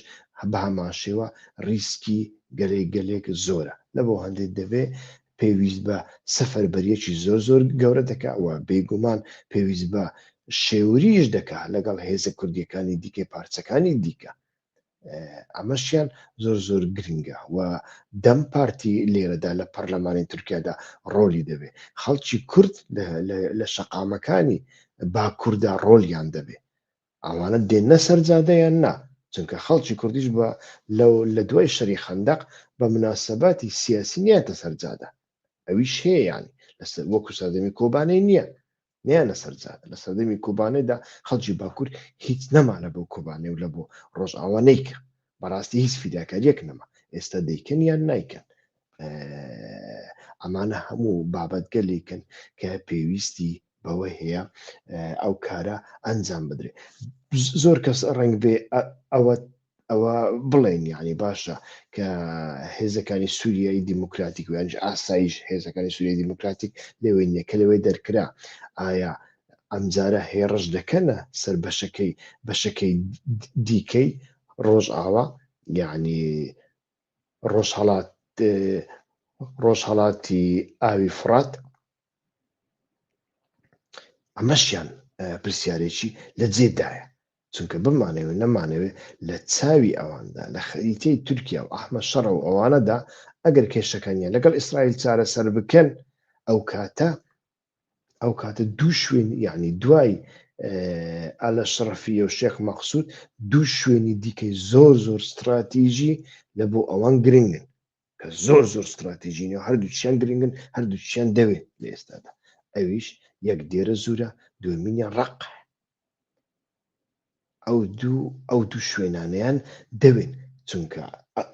بە هەمان شێوە ریسکی گەلێک گەلێک زۆرە لە بۆ هەندێک دەبێ پێویست بە سەفەر بەریەکی زۆر زۆر گەورە دەکەوە بێگومان پێویست بە شێوریش دەکات لەگەڵ هێزە کوردیەکانی دیکەی پارچەکانی دیکە ئەمەشیان زۆر زۆر گرنگە و دەم پارتی لێرەدا لە پەرلەمانی تورکیادا ڕۆلی دەبێ خەڵکی کورد لە شەقامەکانی باکووردا ڕۆلیان دەبێ ئەوانە دێنە سەرجادەیان نا چونکە خەڵکی کوردیش بە لەو لە دوای شەری خندق بە مناسبەتی سیاسی نیاتە سەرجادە ئەویش هەیەیان لەسەر وەکو سەردەمی کۆبانەی نییە نیان لەسەر جادە لە سەردەمی کوبانێدا خەڵکی باکوور هیچ نەمانە بۆ کوبانێ و لە بۆ ڕۆژئاوا نیکە بەڕاستی هیچ فیداکاریەک نەما ئێستا دەیکەن یان نیکەن ئەمانە هەموو بابەتگەلێکن کە پێویستی بەوە هەیە ئەو کارە ئەنجام بدرێت زۆر کەس ڕنگ بێ ئەوە ئەوە بڵێن یعنی باشە کە هێزەکانی سووریایی دیموکراتیک و یانج ئاسایش هێزەکانی سووری دیموکراتیک لەوێ نیە کە لەوێ دەرکرا ئایا ئەمجارە هێڕش دەکەنە سەر بەشەکەی بەشەکەی دیکەی ڕۆژ ئاوا یعنی ڕۆژ هەڵات ڕۆژ هەڵاتی ئاوی فرات ئەمەشیان پرسیارێکی لە جێدایە چونکە بمانەوێ نەمانەوێ لە چاوی ئەواندا، لە خەریتەی تورکیا و ئەحمەد شەڕە و ئەوانەدا، ئەگەر کێشەکانیان لەگەڵ ئیسرائیل چارەسەر بکەن، ئەو کاتە ئەو کاتە دوو شوێن یعنی دوای ئالە شڕەفیە و شێخ مەقسود دوو شوێنی دیکەی زۆر زۆر ستراتیژی لە بۆ ئەوان گرنگن کە زۆر زۆر ستراتیژینە و هەردووچیان گرنگن هەردووچیان دەوێت لە ئێستادا ئەویش یەک دێرە زورە دومینە ڕق ئەو دوو ئەو دوو شوێنانیان دەوێت چونکە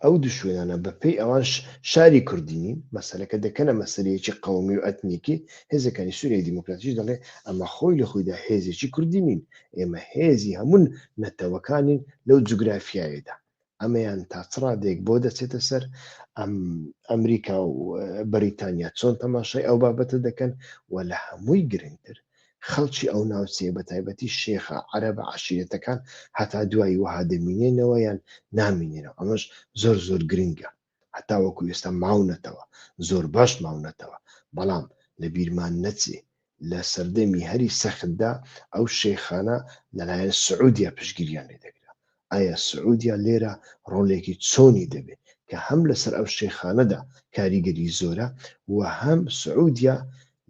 ئەو دوو شوێنانە بەپی ئەوانش شاری کوردینین مەسلەکە دەکەنە مەسلەیەکی قومی و ئەتنیکی هێزەکانی سووری دیموکراتیش دەڵێ ئەمە خۆی لە خۆیدا هێزێکی کوردینین ئێمە هێزی هەمون نەتەوەکانین لەو جوگرافیایەدا ئەمەیان تا چ ڕادەیەک بۆ دەچێتە سەر ئەمریکا و بەریتانیا چۆن تەماشای ئەو بابەتە دەکەن و لە هەمووی گرنگتر خەڵکی ئەو ناوچەیە بە تایبەتی شێخە عەرە بە عشیرەتەکان هەتا دوایی وەها دەمینێنەوە یان نامینێنەوە ئەمەش زۆر زۆر گرنگە هەتا وەکو ئێستا ماونەتەوە، زۆر باش ماونەتەوە، بەڵام لە بیرمان نەچێ لە سەردەمی هەری سەختدا ئەو شێخانە لەلایەن سعودیە پشتگیریان لێ دەکرا، ئایا سعودیە لێرە ڕۆڵێکی چۆنی دەبێ کە هەم لەسەر ئەو شێخانەدا کاریگەری زۆرە و هەم سعودیە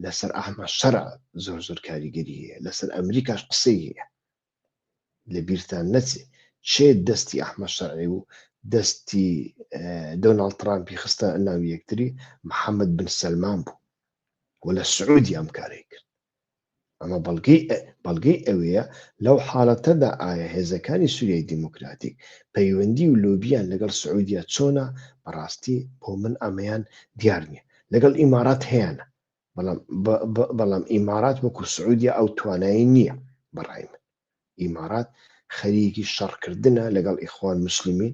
لەسەر ئەحمەد شەرع زۆر زۆر کاریگەری هەیە، لەسەر ئەمریکاش قسەی هەیە. لەبیرتان نەچێ کێ دەستی ئەحمەد شەرعی و دەستی دۆناڵد ترامپی خستە ناو یەکتری محەممەد بن سەلمان بوو و لە سعودی ئەم کارەی کرد ئەمە بەڵگەی بەڵگەی ئەوەیە لەو حاڵەتەدا ئایا هێزەکانی سووریای دیموکراتیک پەیوەندی و لۆبیان لەگەڵ سعودیا چۆنە بەڕاستی بۆ من ئەمەیان دیار نییە لەگەڵ ئیمارات هەیەە بەڵام بەڵام ئیمارات وەکو سعودیە ئەو توانایی نییە بەڕای من ئیمارات خەریکی شەڕکردنە لەگەڵ ئیخوان مسلمین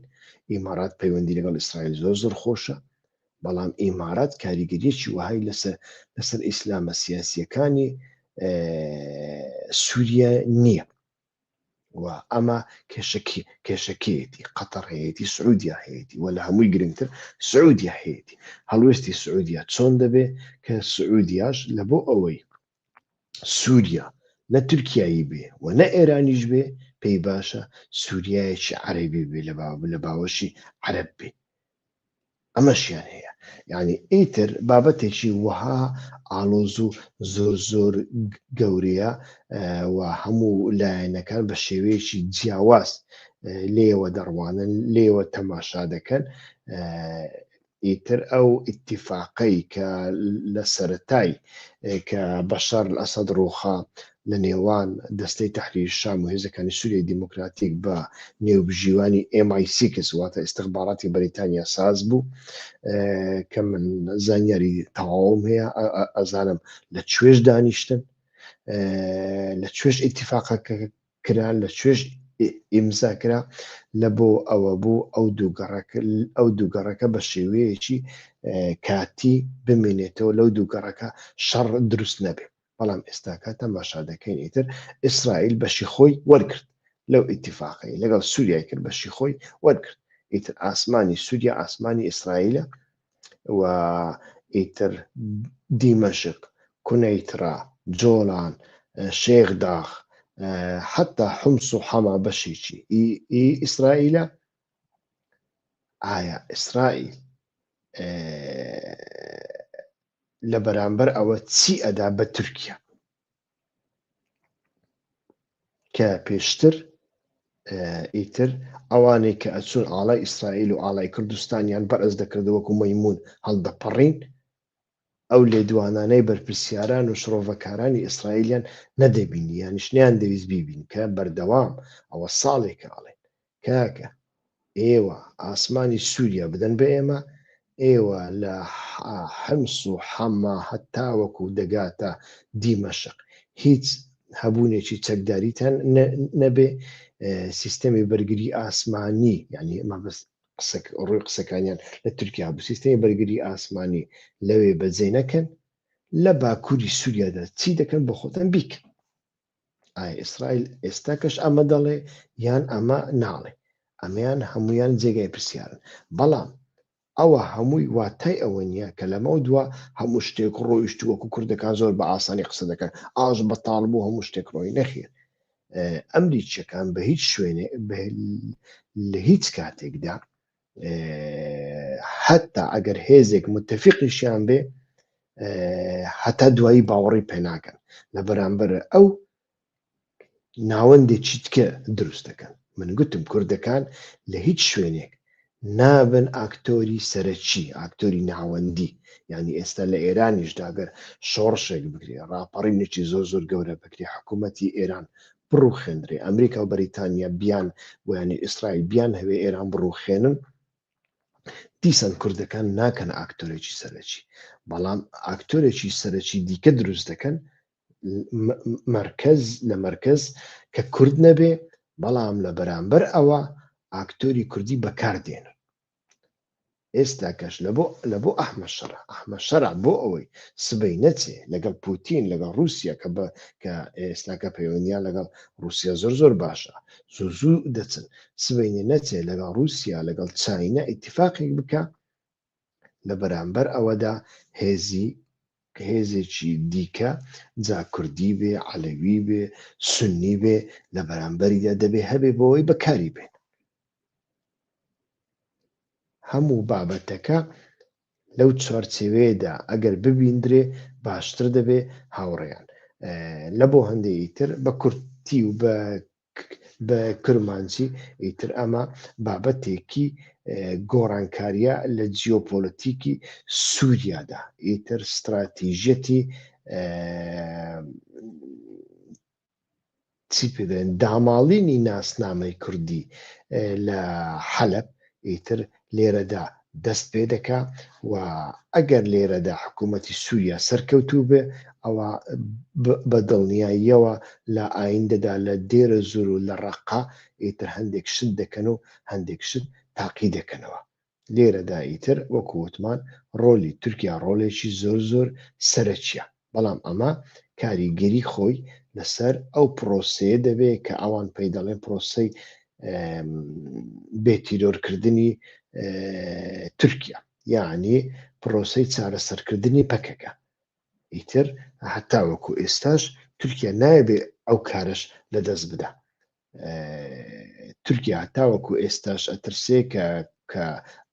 ئیمارات پەیوەندی لەگەڵ ئیسرائیل زۆر زۆر خۆشە بەڵام ئیمارات کاریگەریەکی وهای لەسەر لەسەر ئیسلامە سیاسیەکانی سووریە نییە و ئەمە کێشەکی کێشەکێتی قەتەڕ هەیەی سعودیا هەیەی و لە هەمووی گرنگتر سعودیا هەیەی هەڵوێستی سعودیا چۆن دەبێ کە سعودیاش لە بۆ ئەوەی سووریا نە تورکایی بێ و نە ئێرانیش بێ پێی باشە سووریایەکی عەرەبی بێ لە باوە لە باوەشی عەرەب بێ ئەمەشیان هەیە یعنی ئیتر بابەتێکی وەها ئاڵۆز و زۆر زۆر گەورەیە و هەموو لایەنەکان بە شێوەیەکی جیاواز لێوە دەڕوانن لێوە تەماشا دەکەن ئیتر ئەو ئیتیفاقەی کە لە سەتای کە بەشار ئەسەد ڕووخا لە نێوان دەستەی تەحریر شام و هێزەکانی سوریای دیموکراتیک بە نێوبژیوانی ئێم ئای سیکس واتە ئیستخباراتی بەریتانیا ساز بوو کە من زانیاری تەواوم هەیە ئەزانم لە کوێش دانیشتن لە کوێش ئیتیفاقە کرا لە کوێش ئیمزا کرا لە بۆ ئەوە بوو ئەو دووگەڕەکە ئەو دووگەڕەکە بە شێوەیەکی کاتی بمێنێتەوە لەو دووگەڕەکە شەڕ دروست نەبێت بەڵام ئێستاکە تەماشا دەکەین ئیتر ئیسرائیل بەشی خۆی وەرگرت لەو ئیتیفاقەی لەگەڵ سووریای کرد بەشی خۆی وەرگرت ئیتر ئاسمانی سووریا ئاسمانی ئیسرائیلە و ئیتر دیمەشق کونەیترا جۆڵان شێخ داغ حتا حمس و حەما بەشێکی ئیسرائیلە ئایا ئیسرائیل لە بەرامبەر ئەوە چی ئەدا بە تورکیا کە پێشتر ئیتر ئەوانەی کە ئەچون ئاڵای ئیسرائیل و ئاڵای کوردستانیان بەرز دەکرد وەکو مەمون هەڵدەپەڕین ئەو لێدوانانەی بەرپرسیاران و شڕۆڤەکارانی ئیسرائیلیان نەدەبینی یانیشنیان دەویست بیبین کە بەردەوام ئەوە ساڵێکە ئاڵێن کاکە ئێوە ئاسمانی سوریا بدەن بە ئێمە ئێوە لە حمس و حەما هەتاوەکو دەگاتە دیمەشق هیچ هەبونێکی چەکداریتان نەبێ سیستەمی بەرگری ئاسمانی یعنی مەبست ڕووی قسەکانیان لە تورکیا بوو سیستەمی بەرگری ئاسمانی لەوێ بەجێ نەکەن لە باکووری سووریادا چی دەکەن بە خۆتان بیکەن ئایا ئیسرائیل ئێستا کەش ئەمە دەڵێ یان ئەمە ناڵێ ئەمەیان هەمویان جێگای پرسیارن بەڵام ئەوە هەمووی واتای ئەوە نییە کە لەمە دووە هەموو شتێک ڕۆیشت وەکو کوردەکان زۆر بە ئاسانی قسە دەکەن ئاش بە تاڵ بوو هەموو شتێک ڕۆی نەخێن ئەمریکیەکان بە هیچ شوێنێ لە هیچ کاتێکدا حتا ئەگەر هێزێک متفقیشیان بێ هەتا دوایی باوەڕی پێناکەن لە بەرامبەر ئەو ناوەندێ چیتکە دروست دەکەن من گوتم کوردەکان لە هیچ شوێنێک نابن ئاکتۆری سەرەکی ئاکتۆری ناوەندی ینی ئێستا لە ئێرانیشداگەر شۆڕشێک بکرێ ڕاپەڕی نوچی زۆر زۆر گەورە بکرێ حکوومەتتی ئێران بڕوخێندرێ ئەمریکا و بەریتانیا بیان ویانی ئیسرائیل بیان هەوێ ئێران بڕوخێنن دیسان کوردەکان ناکەن ئاکتۆرێکی سەرەکی بەڵام ئاکتۆرێکی سەرەکی دیکە دروست دەکەن مرکز لە مرکز کە کورد نەبێ بەڵام لە بەرامبەر ئەوە ئاکتۆری کوردی بەکاردێنن ئێستا کەش لە بۆ لە بۆ ئەحمە شەرع ئەحمە شەرع بۆ ئەوەی سبەی نەچێ لەگەڵ پوتین لەگەڵ رووسیا کە بە کە ئێستاکە پەیوەندیان لەگەڵ رووسیا زۆر زۆر باشە زۆر زوو دەچن سبەینێ نەچێ لەگەڵ رووسیا لەگەڵ چاینا ئیتفاقێک بکە لە بەرامبەر ئەوەدا هێزی هێزێکی دیکە جا کوردی بێ عەلەوی بێ سنی بێ لە بەرامبەریدا دەبێ هەبێ بۆەوەی بەکاری بێن هەموو بابەتەکە لەو چوارچێوەیەدا ئەگەر ببیندرێ باشتر دەبێ هاوڕێیان لە بۆ هەندێکی تر بە کورتی و بە بە کرمانجی ئیتر ئەمە بابەتێکی گۆڕانکاریە لە جیۆپۆلەتیکی سووریادا ئیتر استراتیژەتی چی پێدەێن داماڵینی ناسنامەی کوردی لە حەلەب ئیتر لێرەدا دەست پێ دەکا و ئەگەر لێرەدا حکوومەتی سووریا سەرکەوتوو بێ ئەوە بە دڵنیاییەوە لە ئایندەدا لە دێرە زور و لە ڕقا ئیتر هەندێک شت دەکەن و هەندێک شت تاقی دەکەنەوە لێرەدا ئیتر وەکو وتمان ڕۆلی تورکیا ڕۆلێکی زۆر زۆر سەرەکیە، بەڵام ئەمە کاریگەری خۆی لەسەر ئەو پرۆسەیە دەبێ کە ئەوان پێی دەڵێن پرۆسەی بێ تیرۆرکردنی تورکیا یاعنی پرۆسەی چارەسەرکردنی پەکەکە ئیتر هەتاوەکو ئێستاش تورکیا نایبێ ئەو کارش لەدەست بدا تورکیا هەتاوەکو ئێستاش ئەترسێ کە کە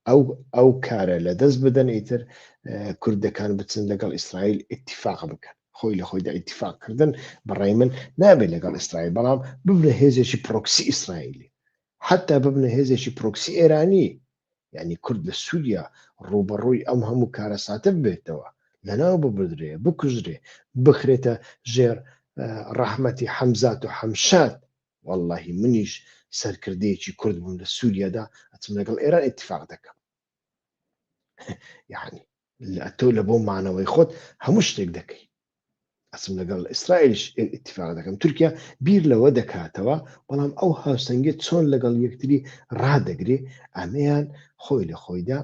ئەو ئەو کارە لە دەست بدەن ئیتر کوردەکان بچن لەگەڵ ئیسرائیل اتفاق بکەن خۆی لە خۆیدا اتفاقکردن بەڕای من نابێت لەگەڵ ئیسرائیل بەڵام ببنە هێزێکی پرۆکسی ئیسرائیلی حتا ببنە هێزێکی پرۆکسی ئێرانی یانی کورد لە سوریا ڕووبەڕووی ئەم هەموو کارەساتە ببێتەوە، لەناو ببردرێ، بکوژرێ، بخرێتە ژێر ڕەحمەتی حەمزات و حەمشاد، وەڵڵاهی منیش سەرکردەیەکی کورد بووم لە سوریادا ئەچم لەگەڵ ئێران ئیتفاق دەکەم. یانی تۆ لە بۆ مانەوەی خۆت هەموو شتێک دەکەی ئەسم لەگەڵ ئیسرائیلش اتفاق دەکەم تورکیا بیر لەوە دەکاتەوە بەڵام ئەو هاوسەنگی چۆن لەگەڵ یەکتری ڕدەگری ئەمەیان خۆی لە خۆیدا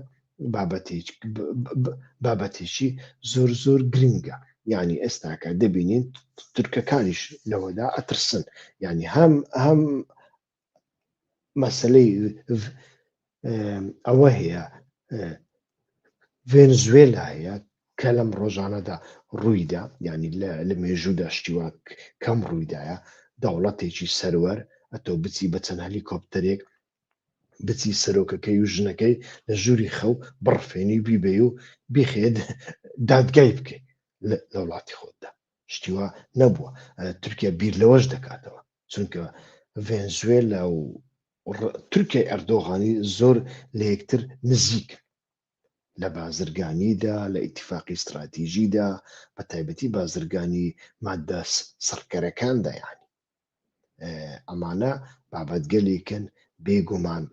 بابەتێکی زۆر زۆر گرنگە یعنی ئێستاکە دەبینین تورکەکانیش لەوەدا ئەترسن یعنی هەم هەم مەسلەی ئەوە هەیە ڤێنزوێلا هەیە کە لەم ڕۆژانەدا ڕوویدا ینی لە مێژوودا شتیوا کەم ڕوویدایە دەوڵەتێکی سەروەر ئەتۆ بچی بە چەند هەلیکۆپتەرێک بچی سەرۆکەکەی و ژنەکەی لە ژووری خەو بڕفێنی و بیبێ و بیخێت دادگای بکەیت لە وڵاتی خۆتدا شتیوا نەبووە تورکیا بیر لەوەش دەکاتەوە چونکە ڤێنزوێلا و تورکیای ئەردۆغانی زۆر لە یەکتر نزیک لە بازرگانیدا لە ئیتفاقی ستراتیژیدا بە تایبەتی بازرگانی مادە سڕکەرەکان دەیانی ئەمانە بابەتگەلێکن بێگومان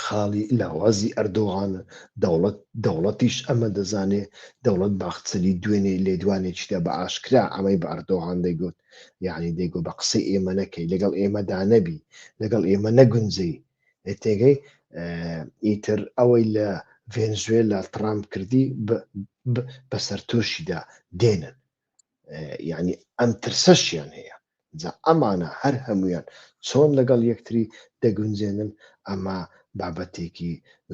خاڵی لاوازی ئەردۆغانە، دەوڵەت دەوڵەتیش ئەمە دەزانێ، دەوڵەت باخچەلی دوێنێ لێدوانێکیدا بە ئاشکرا ئەمەی بە ئەردۆغان دەیگوت، یەعنی دەیگوت بە قسەی ئێمە نەکەی، لەگەڵ ئێمەدا نەبی، لەگەڵ ئێمە نەگونجێی. تێگەی؟ ئیتر ئەوەی لە ڤێنزوێلا تڕامپ کردی، بە سەرتۆشیدا دێنن. یعنی ئەم ترسەشیان هەیە جا ئەمانە هەر هەمویان چۆن لەگەڵ یەکتری دەگونجێنن ئەمە بابەتێکی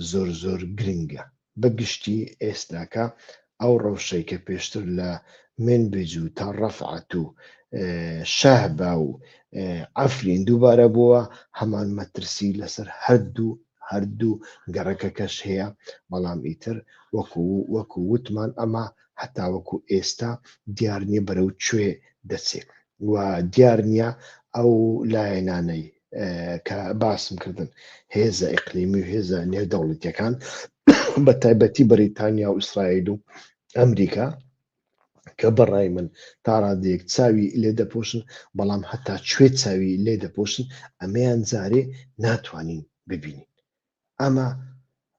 زۆر زۆر گرنگە بە گشتی ئێستاکە ئەو ڕەوشەی کە پێشتر لە من بجو تا ڕەفعات و شەهبا و ئەفرین دووبارە بووە هەمان مەترسی لەسەر هەردوو هەردوو گەڕەکەکەش هەیە بەڵام ئیتر وەکو وەکو وتمان ئەمە هەتاوەکو ئێستا دیار نیە بەرەو کوێ دەچێت و دیار نیە ئەو لایەنانەی کە باسم کردن هێزە ئیقلیمی و هێزە نێودەوڵەتیەکان بە تایبەتی بەریتانیا و ئیسرائیل و ئەمریکا کە بەڕای من تاڕادەیەک چاوی لێ دەپۆشن بەڵام هەتا کوێ چاوی لێ دەپۆشن ئەمەیان جارێ ناتوانین ببینین ئەمە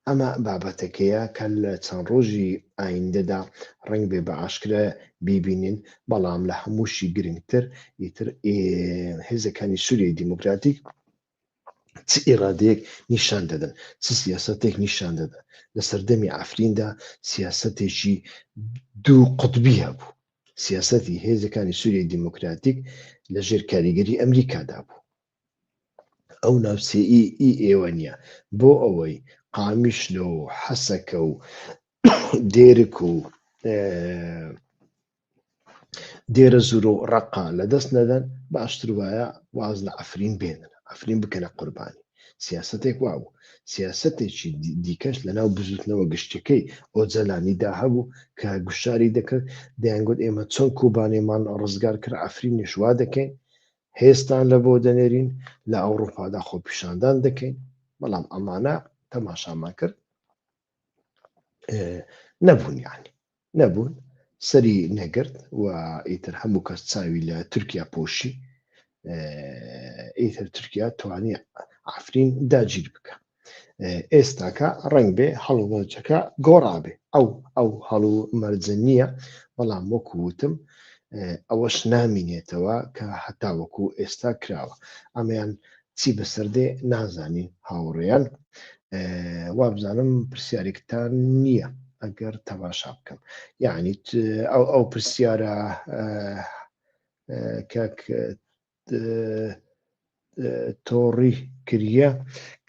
ئەمە بابەتەکەیە کە لە چەند ڕۆژی ئایندەدا ڕەنگ بێ بە ئاشکرا بیبینین، بەڵام لە هەمووشی گرنگتر ئیتر هێزەکانی سووریای دیموکراتیک چ ئیرادەیەک نیشان دەدەن چ سیاستێک نیشان دەدەن لە سەردەمی ئەفریندا سیاستێکی دوو قوتبی هەبوو سیاستی هێزەکانی سووری دیموکراتیک لەژێر کاریگەری ئەمریکادا بوو ئەو ناوچەیی ئی ئێوە نیە بۆ ئەوەی قامیشلۆ و حەسەکە و دێرک و دێرە زورۆ و ڕەقە لە دەست نەدەن باشتر وایە واز لە عەفرین بێنن عەفرین بکەنە قوربانی سیاسەتێک وابوو سیاسەتێکی دیکەش لە ناو بزوتنەوە گشتەکەی ئۆجەلانی دا هەبوو کە گوشاری دەکرد دەیانگوت ئێمە چۆن کوبانێمان ڕزگار کرد عەفرینیش وا دەکەین هێزتان لە بۆ دەنێرین لە ئەوڕوپادا خۆپیشاندان دەکەین بەڵام ئەمانە تەماشامان کرد نەبوون یعنی نەبوون سەری نەگرت و ئیتر هەموو کەس چاوی لە تورکیا پۆشی ئیتر تورکیا توانی ئافرین داگیر بکە ئێستاکە ڕەنگ بێ هەڵومەرجەکە گۆڕابێ ئەو ئەو هەڵو مەرجە نییە بەڵام وەکو وتم ئەوەش نامینێتەوە کە هەتا وەکو ئێستا کراوە ئەمەیان چی بەسەردێ نازانین هاوڕێیان وابزانم پرسیارێکتان نییە ئەگەر تەماشا بکەم یعنی ئەو ئەو پرسیارە کەک تۆڕی کریە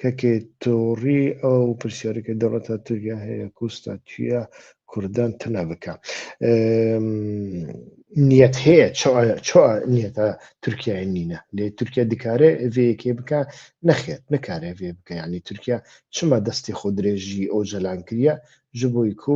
کەکێ تۆڕی ئەو پرسیارەکە دەوڵەتە توریا هەیە کوستا توە کوردان تەنا بکە نیەت هەیە چۆ نیەتە تورکای نینە لێ تورکیا دکارێ ئەڤەیەکێ بکە نەخێت نکارێ ڤێ بکە ینی تورکیا چما دەستی خۆ درێژی ئەو جەلان کریە ji بۆی کو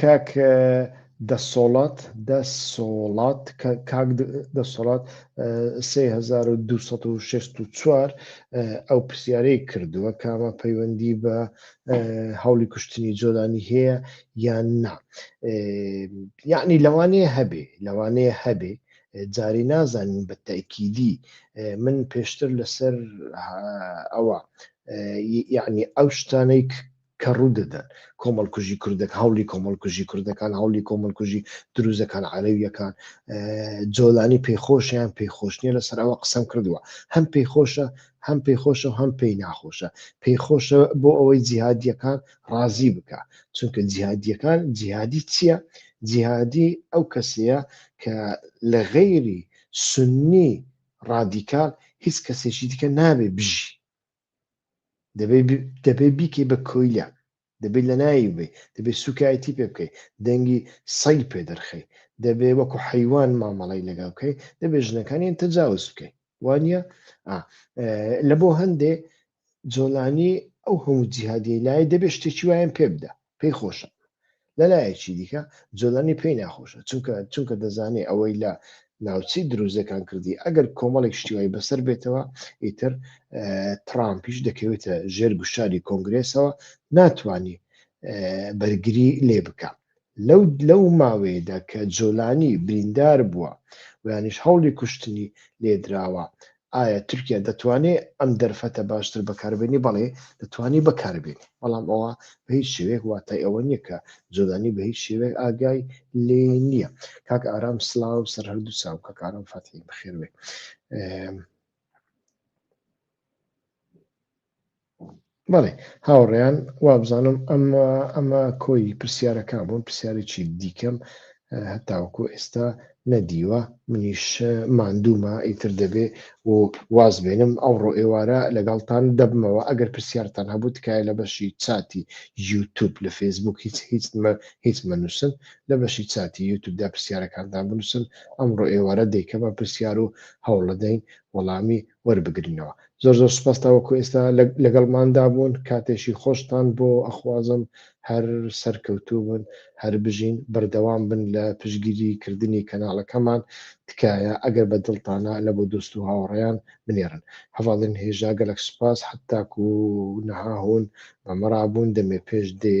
کاک دەسۆڵات دەسۆڵات کاک دەسۆڵات 3264 ئەو پرسیارەی کردووە کامە پەیوەندی بە هەوڵی کوشتنی جۆلانی هەیە یان نا یعنی لەوانێ هەبێ لەوانەیە هەبێ جاری نازانین بە تاکیدی من پێشتر لەسەر ئەوە یعنی ئەو شتانەی کە ڕوو دەدەن کۆمەڵکوژی کوردەک هەوڵی کۆمەڵکوژی کوردەکان هەوڵی کۆمەڵکوژی دروزەکان عەلەویەکان جۆلانی پێخۆشیان پێخۆشنیە لەسەر ئەوە قسەم کردووە هەم پێخۆشە هەم پێخۆشە هەم پێی ناخۆشە پێخۆشە بۆ ئەوەی جیهادیەکان ڕازی بکە چونکە جیهادیەکان جیهادی چییە جیهادی ئەو کەسەیە کە لە غەیری سنی ڕادیکال هیچ کەسێکی دیکە نابێ بژی دەبێ بیکەی بە کۆیلە دەبێت لە ناوی بێ دەبێت سوکایەتی پێ بکەیت دەنگی سەی پێ دەرخەی دەبێ وەکو حیوان مامەڵی لەگە بکەیت دەبێت ژنەکانیان تەجاوز بکەیت وانە لە بۆ هەندێ جۆلانی ئەو هەموو جیهادیەی لایە دەبێ شتێکی وایان پێ بدا پێی خۆشە لە لایەکی دیکە جۆلانی پێی ناخۆشە چونکە چونکە دەزانێ ئەوەی لە ناوچەی دروزەکان کردی ئەگەر کۆمەڵێک شتیوای بەسەر بێتەوە ئیتر ترامپیش دەکەوێتە ژێر گوشاری کۆنگرێسەوە ناتانی بەرگری لێ بکە لەو لەو ماوەیەدا کە جۆلانی بریندار بووە و یانیش هەوڵی کوشتنی لێدراوە ئایا تورکیا دەتوانێ ئەم دەرفەتە باشتر بەکاربێنی بەڵێ دەتوانی بەکاربێنی بەڵام ئەوە بە هیچ شێوەیەک واتای ئەوە نییە کە جۆلانی بە هیچ شێوەیەک ئاگای لێ نییە کاک ئارام سلااو سەر هەردوو چاو کە کارم فەتی بخێروێ بەڵێ هاوڕێیان وابزانم ئەمە ئەمە کۆی پرسیارەکان بوون پرسیارێکی دیکەم هەتاوکو ئێستا نەدیوە منیش ماندوومە ئیتر دەبێ و واز بێنم ئەوڕۆ ئێوارە لەگەڵتان دەبمەوە ئەگەر پرسیارتان هەبوو تکایە لە بەشی چاتی یوتوب لە فەیسبوک هیچ هیچ هیچ مەنووسن لە بەشی چاتی یوتوبدا پرسیارەکانتان بنووسن ئەمڕۆ ئێوارە دەیکەمە پرسیار و هەوڵەدەین وەڵامی وەربگرنەوە زۆر زۆر سوپاس تاوەکو ئێستا لەگەڵماندا بوون کاتێکی خۆشتان بۆ ئەخوازم هەر سەرکەوتوو بن هەر بژین بەردەوام بن لە پشگیری کردنی کەناڵەکەمان تکایە ئەگەر بە دڵتانە لە بۆ دۆست و هاوڕێیان بنێرن هەڤاڵین هێژا گەلەک سوپاس حەتاکو نەهاهون بەمەڕابوون دەمێ پێش دێ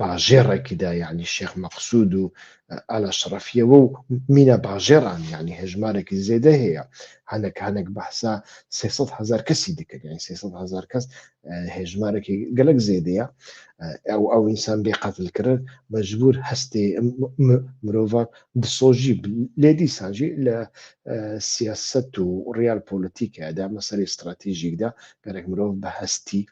باژێڕێکیدا یەعنی شێخ مەقسود و ئالاشڕەفیەوە و مینا باژێڕان یەعنی هەژمارێکی زێدە هەیە هەنەک هەنەک بەحسا سێ سەد هەزار کەسی دکرد یەعنی سێ سەد هەزار کەس هێژمارێکی گەلەک زێدەیە ئەو ئەو ئینسان بێ قەتل کرد مەجبور هەستێ مرۆڤە دسۆژی لێ دیسانجی لە سیاست و ڕیال پۆلتیکەدا مەسەری استراتیژیکدا گەرەک مرۆڤ بە هەستی